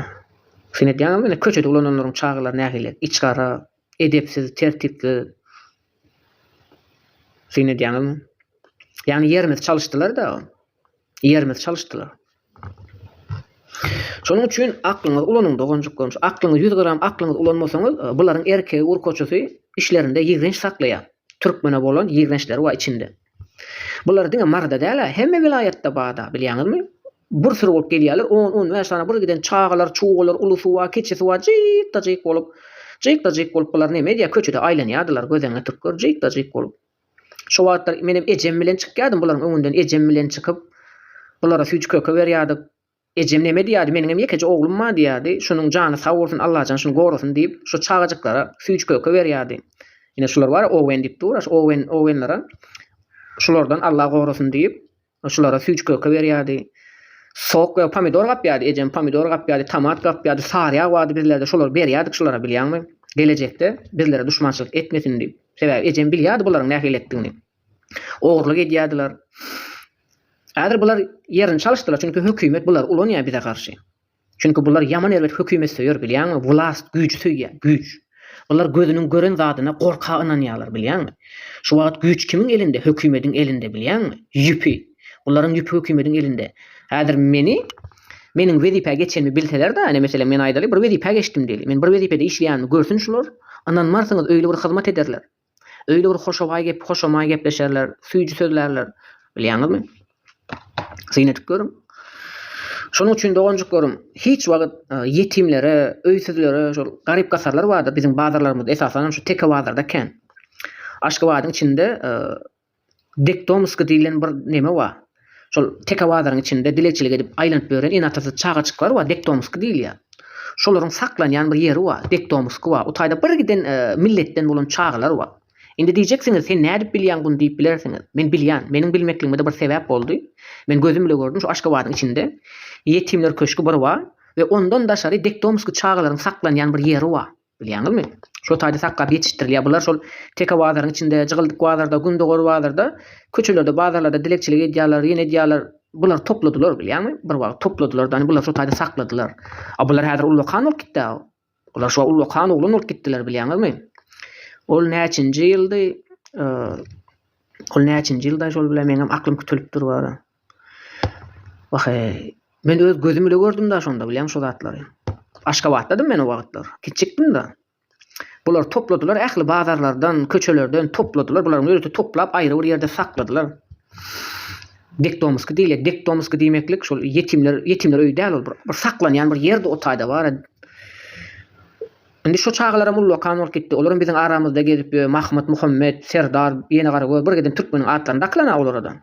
Speaker 1: Sen edýäňmi ine köçede ulananlaryň çagalary nähili içgara, edepsiz, tertipsiz. Sen edýäňmi? Ýagny ýerimizi çalyşdylar-da. Ýerimizi çalyşdylar. Şonuň üçin aklyňyzy ulanyň doganjyklarym. Şu aklyňyzy ýüz gram aklyňyzy ulanmasaňyz, bularyň erkegi urkaçysy işlerinde ýigrenç saklaýar. Türkmene bolan ýigrençleri bar içinde. Bular diňe Maryda däl-ä, hemme welaýatda bada, bilýäňizmi? Bir süri bolup gelýärler, on-on bäş sany bir giden çagalar, çugalar, uly suwa, kiçi suwa jyk-da-jyk bolup. Jyk-da-jyk bolup bular neme edýär, köçede aýlanýardylar, gözeňňe türkler jyk-da-jyk bolup. Şo wagtlar menem ejem bilen çykýardym bularyň öňünden, ejem bilen çykyp, bulara süýji köke berýärdik. Ejem neme diýýärdi, meniňem ýekeje oglum bar diýýärdi. Şonuň jany sag bolsun, Allajan şuny gorasyn diýip, şo çagajyklara süýji-köke berýärdi. Ine, şular bar-a, Owen diýip dur-a, şu Owen, Owenler-a. Şulardan Alla gorasyn diýip, şulara süýji-köke berýärdi. Sok we pomidor gapýardy, ejem pomidor gapýardy, tomat gapýardy, sary ýag bardy bizlerde, şolary berýärdik şulara, bilýäňmi? Gelejekde bizlere duşmançylyk etmesin diýip. Sebäbi ejem bilýärdi bularyň nähili etdigini. Ogurlyk edýärdiler. Häzir bular ýerini çalyşdylar, çünki hökümet bulary ulanýar bize garşy. Çünki bular ýaman erbet hökümetsöýer bilýäňmi, wlast, güýji söýýär, güýç. Bular gözüniň gören zadyna gorka ynanýarlar bilýäňmi. Şu wagt güýç kimiň elinde, hökümediň elinde bilýäňmi. Ýüpi. Bularyň ýüpi hökümediň elinde. Häzir meni, meniň wezipä geçenimi bilseler-de, ine meselem men aýdaly bir wezipä geçdim diýeli. Men bir wezipede işleýänimi görsün şular, ynanmarsyňyz öýli bir hyzmat ederler. Öýde bir hoşobaý gep, hoşamaý gepleşerler, süýji sözlärler. Bilýäňizmi? Syn edip görüň. Şonuň üçin doganjyklarym, hiç wagt ýetimlere, öýsüzlere, şol garyp-gasarlar bardyr, biziň bazarlarymyzda, esasanam şu teke bazarda kän. Aşgabadyň içinde Dektomsky diýlen bir neme bar. Şol teke bazaryň içinde dilegçilik edip aýlanyp ýören ene-atasyz çagajyklar bar, dektomsky diýilýär. Şolaryň saklanýan bir ýeri bar, dektomsky bar. O taýda birgiden milletden bolan çagalar bar. Indi diýjeksiňiz, sen nädip bilýäň buny diýip bilersiňiz. Men bilýän. Meniň bilmekligime-de bir sebäp boldy. Men gözüm bile gördüm, şu Aşgabadyň içinde ýetimler köşgi bir bar we ondan daşary dektomsky çagalaryň saklanýan bir ýeri bar. Bilýäňizmi? Şo taýda sakgap ýetişdirilýär. Bular şol teke bazaryň içinde, jygyldyk bazarda, gündogar bazarda, köçelerde, bazarlarda dilegçilik edýärler, ýene edýärler. Bular topladylar, bilýäňmi? Bir wagt topladylar-da, indi bular şo taýda sakladylar. A bular häzir ullakan bolup gitdi-ä. Bular şo ullakan oglan bolup gitdiler, bilýäňizmi? Ol näçinji ýyldy? Ol näçinji ýylda şol bile meňem aklym kütelip dur bara. Wahe, men öz gözüm ile gördüm-da şonda bilýäň şo zatlary. Aşgabatdadym men o wagtlar. Kiçikdim-da. Bulary topladylar, ähli bazarlardan, köçelerden topladylar. Bularyň ýörite toplap aýry bir ýerde sakladylar. Dekdomsky diýilýär. Dekdomsky diýmeklik şol ýetimler, ýetimler öýi däl ol. Bir saklanýan bir ýerdi o taýda bar. Indi şo çagalaram ullakan bolup gitdi. Olaram biziň aramyzda gezip ýör. Mahmyt, Muhammet, Serdar, Ýenegara gör, birgiden türkmeniň atlaryny dakylan-a olara-da.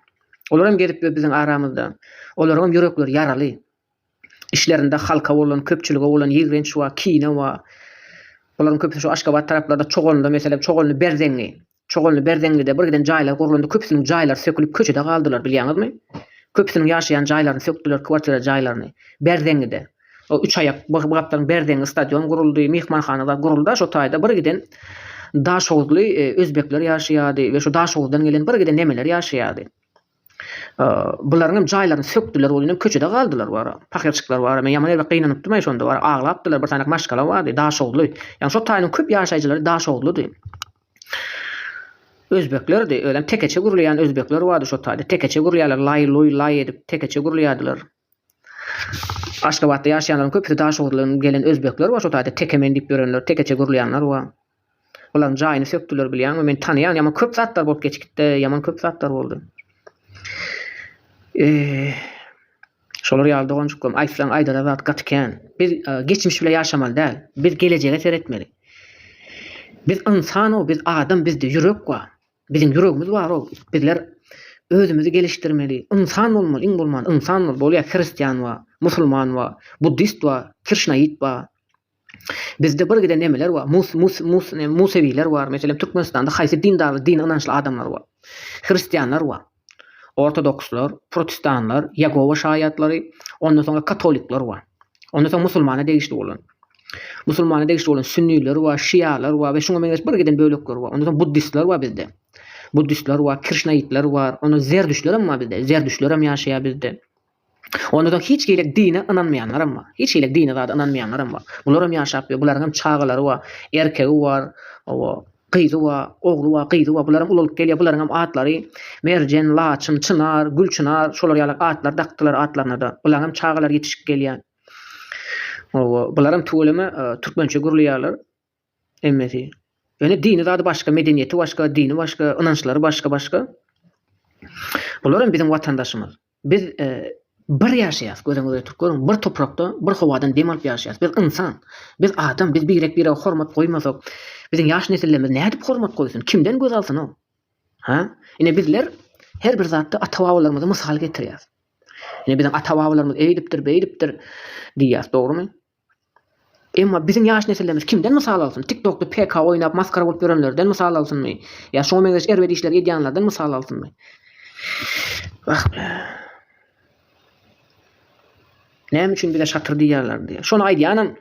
Speaker 1: Olar hem gezip ýör biziň aramyzda. Olaryňam ýürekleri ýaraly. Işlerinde halka bolan, köpçülige bolan ýigrenç bar, kine bar. Bularyň köpüsi şu Aşgabat taraplarda Çoganly meselem Çoganly Berzeňňi. Çoganly Berzeňňide bir giden jaýlar gurlandy, köpüsiniň jaýlary sökülip köçede galdylar bilýäňizmi? Köpüsiniň ýaşaýan jaýlaryny sökdüler, kwartira jaýlaryny. Berzeňňide. O üç aýak bygapdan berdeňňi stadion guruldy, myhmanhana zat guruldy-a şo taýda birgiden daşoguzly özbekler ýaşaýardy we şu daşoguzdan gelen birgiden nemeler ýaşaýardy. Bularyň hem jaýlaryny sökdüler, ol ýene köçede galdylar wara. Pahyrçyklar wara. Men ýaman erbet gynanypdym-aý şonda wara. Aglapdylar, bir sany maşgala bardy, daşoguzly. Ýagny şo taýynyň köp ýaşaýjylary daşoguzlydy. Özbeklerdi, özem tekeçe gurulýan özbekler bardy şo taýda. Tekeçe gurýarlar, laý-luý, laý edip tekeçe gurulýardylar. Aşgabatda ýaşaýanlaryň köpüsi Daşoguzdan gelen özbekler we şo taýda teke men diýip ýörenler, tekeçe gürleýänler we olaryň jaýyny sökdüler bilýäňmi? Men tanaýan ýaman köp zatlar bolup geçgitde ýaman köp zatlar boldy. Şolar ýaly doganjyklarym aýtsaň aýdara zat gaty kän. Biz geçmiş bilen ýaşamaly däl. Biz gelejege seretmeli. Biz ynsan-ow, biz adam, bizde ýürek bar. Biziň ýüregimiz bar ol. Bizler özümizi gelişdirmeli. Ynsan bolmaly, iň bolman ynsan bol. Bolýa hristian bar, musulman bar, buddist bar, kirşnaýit bar. Bizde bir gide nemeler bar, mus mus mus musewiler bar. Meselem Türkmenistanda haýsy dindarly dine ynançly adamlar bar. Hristianlar bar. Ortodokslar, protestanlar, Ýegowa şaýatlary, ondan soňra katolikler bar. Ondan soň musulmana degişli bolan. Musulmana degişli bolan sünniler bar, şialar bar we şuňa meňzeş birgiden bölekler bar. Ondan soň buddistler bar bizde. Buddistler bar, kirşnaitler bar. Ondan zerdüştler hem bar bizde. Zerdüştler hem ýaşaýar bizde. Onda soň hiç hili dine ynanmaýanlaram bar. Hiç hili dine zada ynanmaýanlaram bar. Bularam ýaşap ýör. Bularyňam çagalary bar. Erkegi bar. Hawa. Gyzy bar. Ogly bar. Gyzy bar. Bularam ulalyp gelýär. Bularyňam atlary Merjen, Laçyn, Çynar, Gülçynar şolar ýaly atlar dakdylar atlaryna-da. Bulaňam çagalary ýetişip gelýär. Hawa. Bularam tüweleme türkmençe gürleýärler. Hemmesi. Ýöne dini zady başga, medeniýeti başga, dini başga, ynançlary başga başga. Bular hem biziň watandaşymyz. Biz bir ýaşaýas, gözüňiz ýetik görüň, bir toprakda, bir howadan dem alyp ýaşaýas. Biz ynsan. Biz adam. Biz birek birege hormat goýmasak, biziň ýaş nesillerimiz nädip hormat goýsun? Kimden göz alsyn ol? Ha? Ine bizler her bir zatda ata-babalarymyzy mysal getirýäs. Ine biziň ata-babalarymyz eýdipdir, beýdipdir diýýäs, dogrumy? Emma biziň ýaş nesillerimiz kimden mysal alsyn? Tiktokda PK oýnap masgara bolup ýörenlerden mysal alsynmy? Ýa şoňa meňzeş erbet işleri edýänlerden mysal alsynmy? Wah-be! Näme üçin bize şatyr diýýärler diýýär. Şony aýdýanam,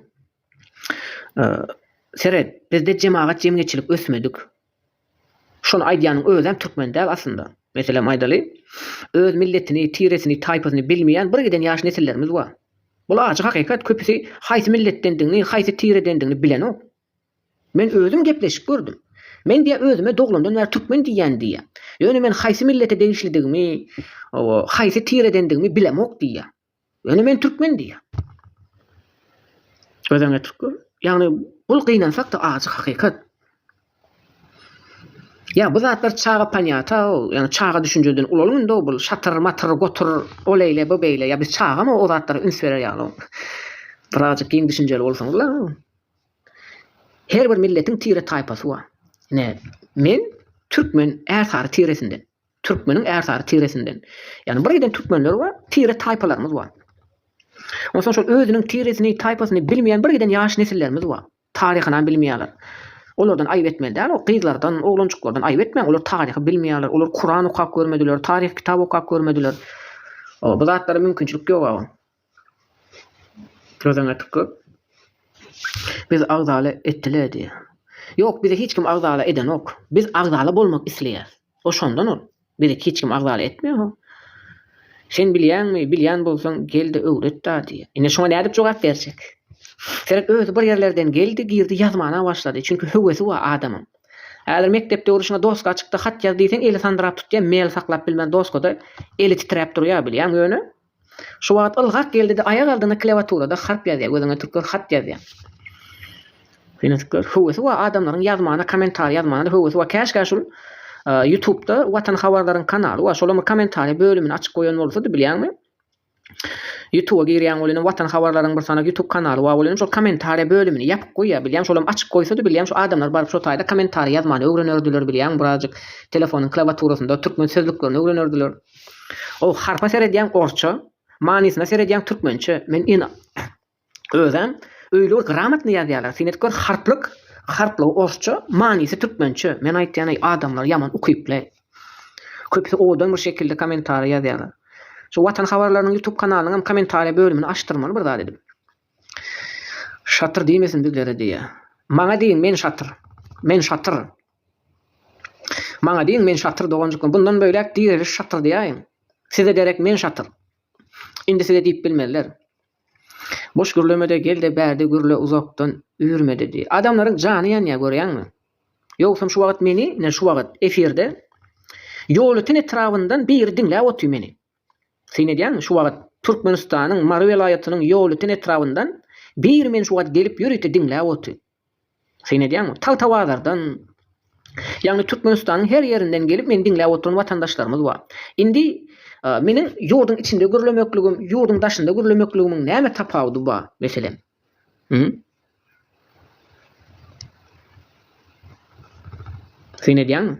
Speaker 1: seret, bizde jemagat-jemgyýetçilik ösmedik. Şony aýdýanyň özem türkmen däl aslynda. Meselem aýdaly, öz milletini, tiresini, taýpasyny bilmeýän bir giden ýaş nesillerimiz bar. Bul ajy hakykat, köpüsi haýsy milletdendigini, haýsy tiredendigini bilenok. Men özüm gepleşip gördüm. Men diýýä özüme doglandan bäri türkmen diýýän diýýä. Ýöne men haýsy millete degişlidigimi, haýsy tiredendigimi bilemok diýýä. Ýöne men türkmen diýýär. Özeňe türkmen. Ýagny bul gynansak-da ajy hakykat. Ýa bu zatlar çaga panyata, ýagny çaga düşünjeden ulalyň indi-ow bul şatyr, matyr, gotur, o leýle, bu beýle, ýa biz çagamy o zatlara üns berer ýaly-ow. Birazajyk giň düşünjeli bolsaňyzla. Her bir milletiň tire-taýpasy bar. Ine, men türkmen ärsary tiresinden. Türkmeniň ärsary tiresinden. Ýagny bir eden türkmenler we tire taýpalarymyz bar. Onsoň şol özüniň tiresini, taýpasyny bilmeýän bir eden ýaş nesillerimiz bar. Taryhynam bilmeýärler. Olardan aýyp etmeli däl, o gyzlardan, oglanjyklardan aýyp etmäň, olar taryhy bilmeýärler, olar Kuran okap görmediler, taryh kitap okap görmediler. O, bu zatlara mümkinçilik ýog-a. Sözüň eti köp. Biz agzala etdile diýýä. Ýok bizi hiç kim agzala edenok. Biz agzala bolmak isleýäs. O şondan ol. Bizi hiç kim agzala etmeýo. Sen bilýäňmi, bilýän bolsaň gelde öwretda diýýä. Ine şoňa nädip jogap berjek. Seret özi bir ýerlerden geldi girdi ýazmana başlady. Çünki höwesi bar adamyň. Häzir mekdep döwrüşiňe doska çykdy hat ýaz diýseň eli sandyrap tutýa mel saklap bilmän doskada eli titräp durýa bilýäň ýöne Şu wagt ylgap geldi-de aýak aldyna klewaturada harp ýazýar, gözüňe türkler hat ýazýar. Fenatyklar höwesi bar adamlaryň ýazmana kommentariý ýazmana höwesi bar käşgä şul ýutubda watan habarlaryň kanaly bar şolam bir kommentariý bölümini açyp goýan bolsady bilýäňmi ýutuba girýäň bolanam watan habarlaryň bir sanak ýutub kanaly bar bolanam şol kommentariý bölümini ýapyk goýýar bilýäň şolam açyk goýsady bilýäň şu adamlar baryp şo taýda kommentariý ýazmany öwrenerdiler bilýäňmi birazjyk telefonyň klawaturasyna türkmen sözlüklerini öwrenerdiler. O harpa seredýäň orsça, manysyna seredýäň türkmençe. Men ýene özem öýle bir gramatny ýazýarlar. Sen edip gör harplyk, harplygy orsça, manysy türkmençe. Men aýtýan-eý adamlar ýaman ukyply. Köpüsi owadan bir şekilde kommentariýa ýazýarlar. Şu Watan habarlarynyň ýutub kanalynyňam kommentariýa bölümini açdyrmaly bir zat edip. Şatyr diýmesin bizlere diýýä. Maňa diýiň men şatyr. Men şatyr. Maňa diýiň, men şatyr doganjykmy, bundan böläk direliş şatyr diýäýiň. Size gerek men şatyr. Indi size diýip bilmezler. Boş gürlemede gel-de bärde gürle uzakdan üýrmede diý. Adamlaryň jany ýanýar görýäňmi? Ýogsam şu wagt meni, ine şu wagt efirde Ýolöten etrabyndan biri diňläp otyr meni. Syn edýäňmi? Şu wagt Türkmenistanyň Mary welaýatynyň Ýolöten etrabyndan biri meni şu wagt gelip ýörite diňläp otyr. Syn edýäňmi? Tagtabazardan, ýagny Türkmenistanyň her ýerinden gelip meni diňläp oturan watandaşlarymyz bar. Indi meniň ýurduň içinde gürlemekligim, ýurduň daşynda gürlemekligimiň näme tapawudy bar, meselem? Hü? Syn edýäňmi?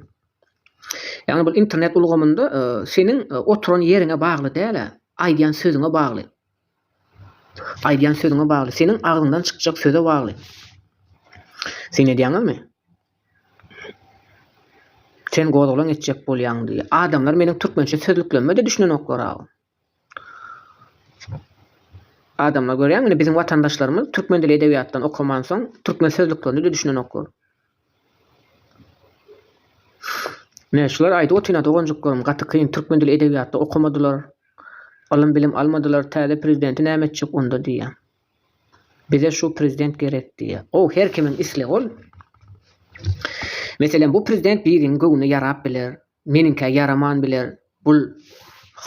Speaker 1: Ýagny bu internet ulgamynda seniň oturan ýeriňe bagly däl-ä, aýdýan sözüňe bagly. Aýdýan sözüňe bagly. Seniň agzyňdan çykjak söze bagly. Sen edýäňizmi? Sen gozgalaň etjek bolýaň diýýär. Adamlar meniň türkmençe sözlüklerime-de düşünenoklar-aw. Adamlar görýäňmi, indi biziň watandaşlarymyz türkmen dili edebiýatdan okamansoň, türkmen sözlüklerine-de düşünenoklar. Ine, şulary aýdyp otyryn-a, doganjyklarym, gaty kyn, türkmen dili edebiýatda okamadylar, ylym-bilim almadylar, täze prezidenti näme etjek onda diýýän. Bize şu prezident gerek diýýän. Gowy, her kimiň islegi ol. Meselem, bu prezident biriň göwnüne ýarap biler, meniňkä ýaraman biler, bul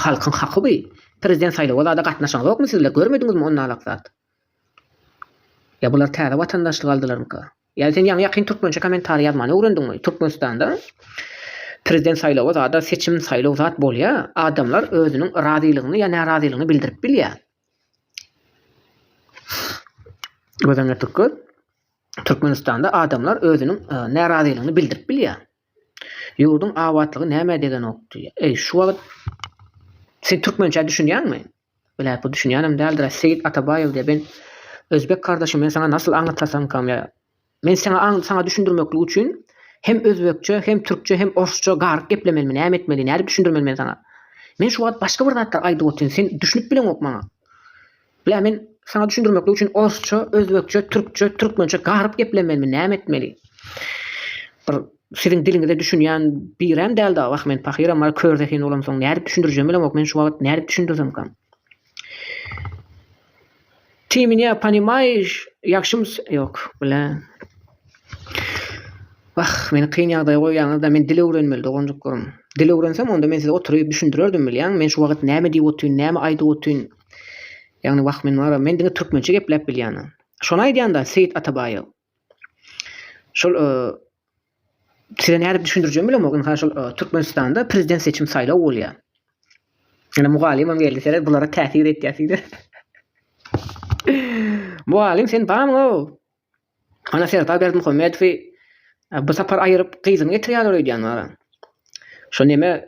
Speaker 1: halkyň haky bi. Prezident saýlawa zada gatnaşaňyzokmy sizler, görmediňizmi onnalak zat? Ýa bular täze watandaşlyk aldylarmyka? Ýa sen ýaňy ýakyn türkmençe kommentariý ýazmany öwrendiňmi? Türkmenistanda prezident saýlawy zada seçim saýlaw zat bolýa, adamlar özüniň razylygyny ýa närazylygyny bildirip bilýä. Göz öňüne türk göz. Türkmenistanda adamlar özüniň närazylygyny bildirip bilýä. Ýurduň abatlygy nämä degenokdy. Eý, şu wagt sen türkmençä düşünýäňmi? Bilä, bu düşünýänem däldir-ä, Seýit Atabaýew diýýär. Men, özbek kardeşim, men saňa nasyl aňlatsasamkam, ýa men seňa saňa düşündirmeklik üçin hem özbekçe, hem türkçe, hem orsça garyp geplemelimi, näme etmeli, nädip düşündirmeli men saňa? Men şu wagt başga bir zatlar aýdyp otyryn, sen düşünip bileňok maňa. Bilä men saňa düşündirmeklik üçin orsça, özbekçe, türkçe, türkmençe garyp geplemelimi, näme etmeli? Bir siziň diliňize düşünýän birem däl dagy wah men pahyram bar kör zehin bolamsoň nädip düşündirjem bilemok men şu wagyt nädip düşündirsemkam. Ty mine panimaýyş ýagşymys ýok bilä. Wah meni kyn ýagdaýa goýýaňyzda men dil öwrenmeli doganjyklarym. Dil öwrensem onda men size oturyp düşündirerdim bilýäňmi men şu wagyt näme diýip otyryn näme aýdyp otyryn Ýagny wah men wara men diňe türkmençe gepläp bilýäna. Şony aýdýanda Seýit Atabaýew. Şol size nädip düşündirjegimi bilemok. Ynha şol Türkmenistanda prezident seçim saýlaw bolýar. Ýöne mugallymam geldi seret bulara täsir etýär size. Mugallym sen bamyň-o? Ana Serdar Berdimuhamedowy bu sapar aýyryp gyzyny getirýärler öýdýän wara. Şo neme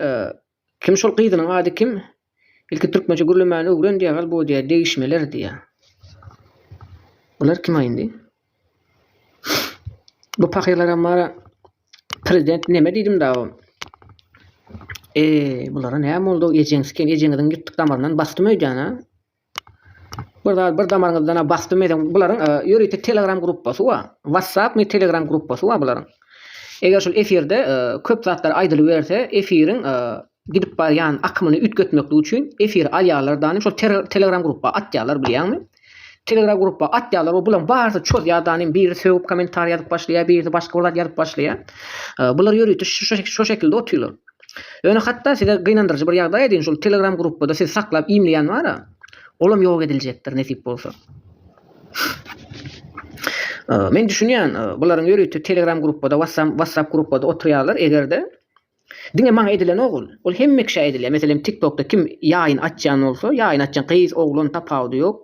Speaker 1: Kim şol gyzynyň ady kim? Ilki türkmençe gürlemäni öwren diýägal bu diýä degişmeler diýä. Bular kima indi? Bu pahyrlaram bara prezident neme diýdim da bu. Eee bulara näme boldy ejeňiz kim ejeňiziň ýyrtyk damaryndan basdym öýdýän ha. Bir zat bir damaryňyzdan-a bas bilmeseň bularyň e, ýörite telegram gruppasy bar. WhatsApp mi telegram gruppasy bar bularyň. Eger şul efirde e, köp zatlar aýdylyberse, efiriň e, gidip barýan akymyny üýtgetmeklik üçin efir alýarlar dany şol telegram gruppa atýarlar bilýäňmi? Telegram gruppa atýarlar we bularyň barysy çozýar danym biri sögüp kommentariý ýazyp başlaýar, biri başga bir zat ýazyp başlaýar. E, bular ýörite şu şekilde otyrlar. Ýöne hatda size gynandyryjy bir ýagdaý aýdaýyn, şol telegram gruppada siz saklap imleýän bara, olam ýok ediljekdir nesip bolsa. Men düşünýän, bularyň ýörite telegram gruppada, wassam, wassap gruppada oturýarlar, egerde diňe maňa edilenok ol. Ol hemme kişä edilýär. Meselem, tiktokda kim ýaýyn açýan bolsa, ýaýyn açýan gyz, oglan tapawudy ýok.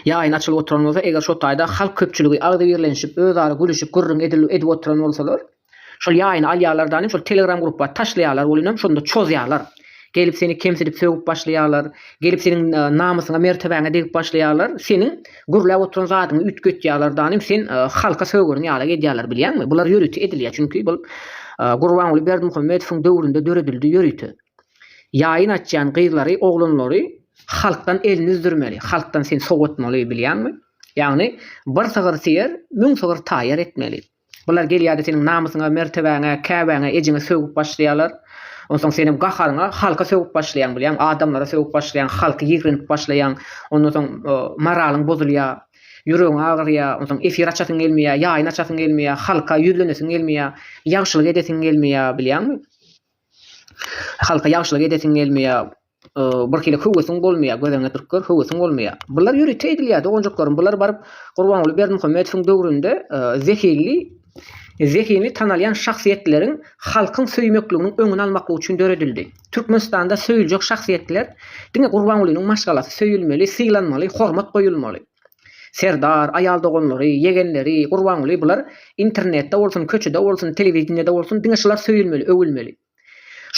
Speaker 1: Ýaýyň açylyp oturan bolsa, eger şo taýda halk köpçüligi agzybirlenişip, özara gülüşip, gürrüň edip oturan bolsalar, şol ýaýyny alýarlar danem, şol telegram grupba taşlaýarlar, welinem şonda çozýarlar. Gelip seni kemsidip sögüp başlaýarlar, gelip seniň namysyňa, mertebäňe degip başlaýarlar, seniň gürläp oturan zadyňy üýtgetýärler danem, sen halka sögürin ýalak edýärler bilýäňmi? Bular ýörite edilýär, çünki bul Gurbanguly Berdimuhamedowyň döwründe döredildi ýörite. Ýaýyn açýan gyzlary, oglanlary halkdan elini üzdürmeli, halkdan seni sowatmaly bilýäňmi? Ýagny bir sygyr syýer, müň sygyr taýýar etmeli. Bular gelýärde seniň namysyňa, mertebäňe, käbäňe, ejeňe sögüp başlaýarlar. Onsoň senem gaharyňa halka sögüp başlaýaň bilýäň, adamlara sögüp başlaýaň, halky ýigrenip başlaýaň. Ondan soň moralyň bozulýar, ýüregiň agyrýar, onsoň efir açasyň gelmeýär, ýaýyn açasyň gelmeýär, halka ýüzlenesiň gelmeýär, ýagşylyk edesiň gelmeýär bilýäňmi? Halka ýagşylyk edesiň gelmeýär. Birhili höwesiň bolmaýar. Göz öňüne turup gör, höwesiň bolmaýar. Bular ýörite edilýär doganjaklarym. Bular baryp Gurbanguly Berdimuhamedowyň döwründe zehinli zehinli tanalýan şahsyýetleriň halkyň söýmekliginiň öňüni almaklyk üçin döredildi. Türkmenistanda söýüljek şahsyýetler diňe Gurbangulynyň maşgalasy söýülmeli, sylanmaly, hormat goýulmaly. Serdar, aýal doganlary, ýegenleri, Gurbanguly bular internetde bolsun, köçede bolsun, telewideniýede bolsun diňe şular söýülmeli, öwülmeli.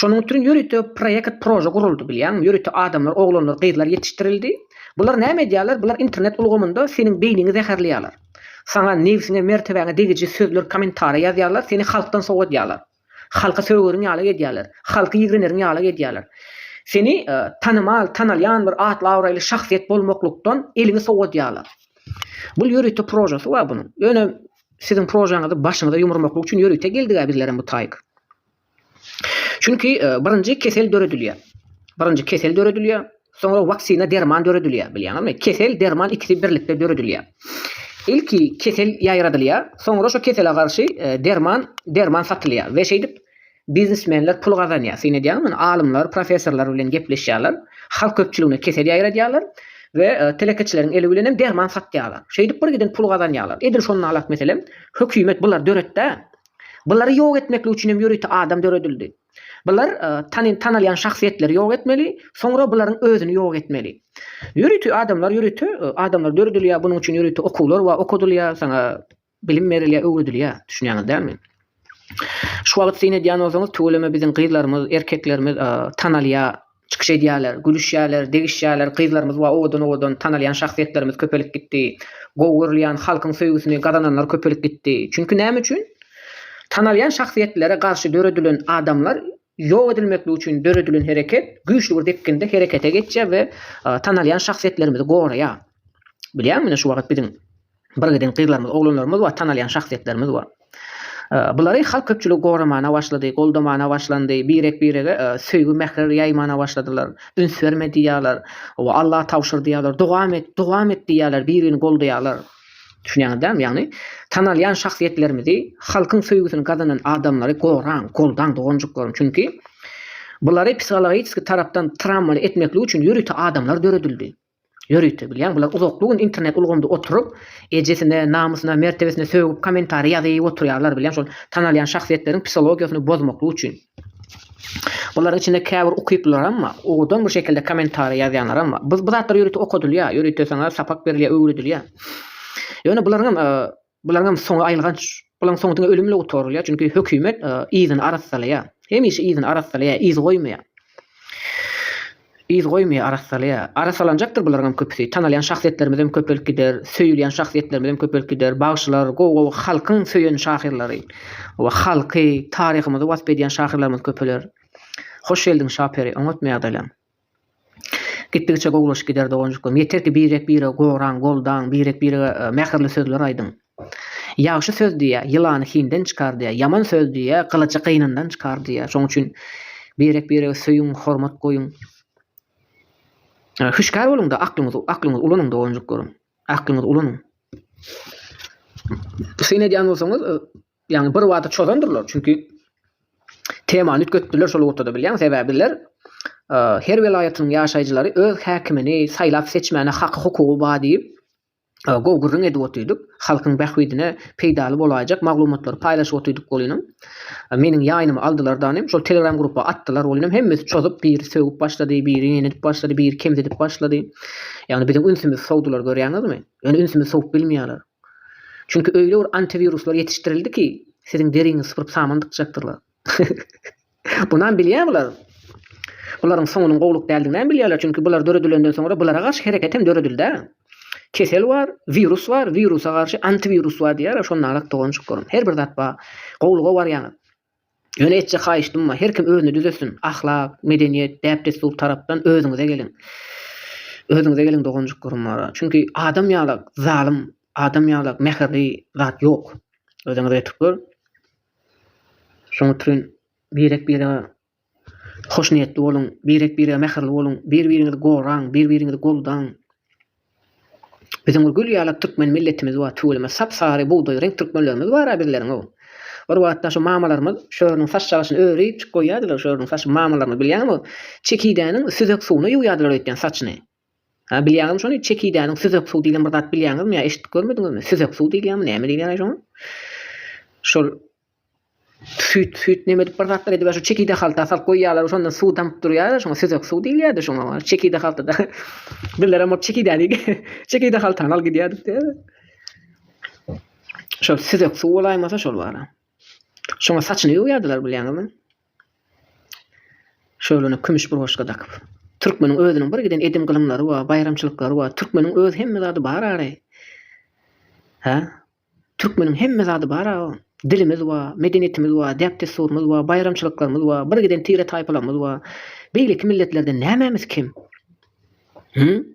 Speaker 1: Şonuň üçin ýörite proýekt, prože guruldy bilýäňmi, ýörite adamlar, oglanlar, gyzlar ýetişdirildi. Bular näme edýärler, bular internet ulgamynda seniň beýniňi zäherleýärler. Saňa nebsiňe, mertebäňe degiji sözler, kommentariýa ýazýarlar, seni halkdan sowadýarlar. Halky sögeriň ýaly edýärler. Halky ýigreneriň ýaly edýärler. Seni tanymal, tanalýan bir atly-abraýly şahsyýet bolmaklykdan eliňi sowadýarlar. Bul ýörite prožasy bar bunuň. Ýöne siziň prožaňyzy başyňyza ýumurmaklyk üçin ýörite geldig-ä bizlerem bu taýyk. Çünki birinji kesel döredilýär. Birinji kesel döredilýär. Soňra waksina derman döredilýär, bilýäňizmi? Kesel, derman ikisi birlikde döredilýär. Ilki kesel ýaýradylýar, soňra şo kesele garşy derman, derman satylýar we şeýdip biznesmenler pul gazanýar. Syn edýäňizmi? Indi alymlar, professorlar bilen gepleşýärler, halk köpçüligine kesel ýaýradýarlar we telekeçileriň eli bilen hem derman satýarlar. Şeýdip birgiden pul gazanýarlar. Edil şony nalak meselem, hökümet bulary döretdä. Bulary ýok etmeklik üçin hem ýörite adam döredildi. Bular tanalýan şahsyýetleri ýok etmeli, soňra bularyň özüni ýok etmeli. Ýörite adamlar ýörite adamlar döredilýär, bunuň üçin ýörite okuwlar bar, okadylýar, saňa bilim berilýär, öwredilýär, düşünýäňiz dälmi? Şu wagt syn edýän bolsaňyz tüweleme biziň gyzlarymyz, erkeklerimiz tanalýar. Çykyş edýärler, gülüşýärler, degişýärler, gyzlarymyz we owadan-owadan tanalýan şahsyýetlerimiz köpelip gitdi. Gowy görülýän, halkyň söýgüsini gazananlar köpelip gitdi. Çünki näme üçin? Tanalýan şahsyýetlere garşy döredilen adamlar ýok edilmeklik üçin döredilen hereket güýçli bir depginde herekete geçýär we tanalýan şahsyýetlerimizi goraýar. Bilýäňmi, ine şu wagt biziň Bir giden gyzlarymyz, oglanlarymyz bar, tanalýan şahsyýetlerimiz bar. Bulary halk köpçüligi goramana başlady, goldamana başlandy, birek-birege söýgi, mähir ýaýmana başladylar. Üns berme diýýärler, oba Alla tabşyr diýýärler, dogam et, dogam et diýýärler, bir-birini goldaýarlar. Düşünýäňiz dälmi? Ýagny tanalýan şahsyýetlerimizi, halkyň söýgüsini gazanan adamlary goraň, goldaň doganjyklaryň. Çünki bulary psihologiski tarapdan trawmaly etmeklik üçin ýörite adamlar döredildi. Ýörite bilýän bular uzakly gün internet ulgamda oturyp ejesine, namysyna, mertebesine sögüp kommentariý ýazyp oturýarlar bilýän şol tanalýan şahsyýetleriň psihologiýasyny bozmaklyk üçin. Bularyň içinde käbir ukyplylaram bar, owadan bir şekilde kommentariý ýazýanlaram bar. Bu zatlar ýörite okadylýar, ýörite saňa sapak berilýär, öwredilýär. Ýöne bularyňam Bularyňam soňy aýylganç. Bularyň soňy diňe ölüm bilen gutarylýar, çünki hökümet yzyny arassalaýar. Hemişe yzyny arassalaýar, yz goýmaýar. Yz goýmaýar, arassalaýar. Arassalanjakdyr bularyňam köpüsi. Tanalýan şahsyýetlerimizem köpelip gider, söýülýän şahsyýetlerimizem köpelip gider. Bagşylar, gowy-gowy halkyň söýen şahyrlary we halky, taryhymyzy wasp edýän şahyrlarymyz köpeler. Hoş geldiň Şaperi, oňatmy ýagdaýlaň? Gitdigiçe gowulaşyp gider doganjyklarym. Ýeter ki birek biregi goraň, goldaň, birek birege mähirli sözler aýdyň. Ýagşy söz diýýär, ýylany hinden çykar diýýär, ýaman söz diýýär, gylyjy gynyndan çykar diýýär. Şonuň üçin birek biregi söýüň, hormat goýuň. Hüşgär boluňda aklyňyzy aklyňyzy ulanyň doganjyklarym. Aklyňyzy ulanyň. Syn edýän bolsaňyz Ýagny bir wada çozandyrlar, çünki temany üýtgetdiler şol ortada bilýäň, sebäbi bizler her welaýatynyň ýaşaýjylary öz häkimini saýlap seçmäne haky hukugy bar diýip gowy gürrüň edip otyrdyk. Halkyň bähbidine peýdaly bolaýjak maglumatlary paýlaşyp otyrdyk welinem meniň ýaýnymy aldylar danym şol telegram grupa atdylar welinem hemmesi çozup biri sögüp başlady biri neni edip başlady biri kemsidip başlady ýagny biziň ünsümizi sowdular görýäňizmi ýöne ünsümizi sowup bilmeýärler Çünki öýle bir antiwiruslar ýetişdirildi ki siziň deriňizi sypyryp saman dykjakdyrlar. Bunam bilýär bular. Bularyň soňunyň gowluk däldiginäm bilýärler çünki bular döredilenden soňra bulara garşy hereketem döredildä. Kesel bar, wirus bar, wirusa garşy antiwirus bar diýýärler şonda alak doganjyklarym. Her bir zat bar. Gowluga barýaňyz. Ýöne etjek haýyşdym bar, her kim özüni düzetsin, ahlak, medeniýet, däp-dessur tarapdan özüňize geliň. Özüňize geliň doganjyklarym. Çünki adam ýalak zalym, adam ýalak mähirli zat ýok. Özüňize ýetip gör. Şoňa türin birek-birege Hoşniýetli boluň, birek-birege mähirli boluň, bir-biriňizi goraň, bir-biriňizi goldaň. Biziň bir gül ýaly türkmen milletimiz bar, tüweleme sap-sary bugdaý reňk türkmenlerimiz bar-a bizleriň-ow. Bir wagtlar şu mamalarymyz şörüniň saç çagasyny örüp çykyp goýýardylar, şörüniň saçyny mamalarymyz bilýäňmi, çekidäniň süzek suwuna ýuwýardylar öýtýän saçyny. Ha, bilýäňizmi şony, çekidäniň süzek suw diýlen bir zat bilýäňizmi ýa eşidip görmediňizmi? Süzek suw diýilýärmi, näme diýilýär-aý şoňa? Şol süýt, süýt näme edip bir zatlar edip, şo çekide halta salyp goýýarlar, şondan suw damyp durýar-a, şoňa süzek suw diýilýär-de şoňa. Çekide haltada birlerem ol çekidäni çekide haltany al gidýär diýipdi. Şol süzek suw bolaýmasa şol bar-a. Şoňa saçyny ýuwýardylar bilýäňizmi? Şöwlene kümüş burgaçka dakyp. Türkmeniň özüniň bir giden edim-gylymlary bar, baýramçylyklary bar. Türkmeniň öz hemme zady bar ary. Hä? Türkmeniň hemme zady bar a. Dilimiz bar, medeniýetimiz bar, däp-dessurymyz bar, baýramçylyklarymyz bar, bir giden tire-taýpalarymyz bar. Beýleki milletlerden nämemiz kem? Hü?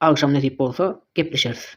Speaker 1: Agşam nesip bolsa gepleşeris.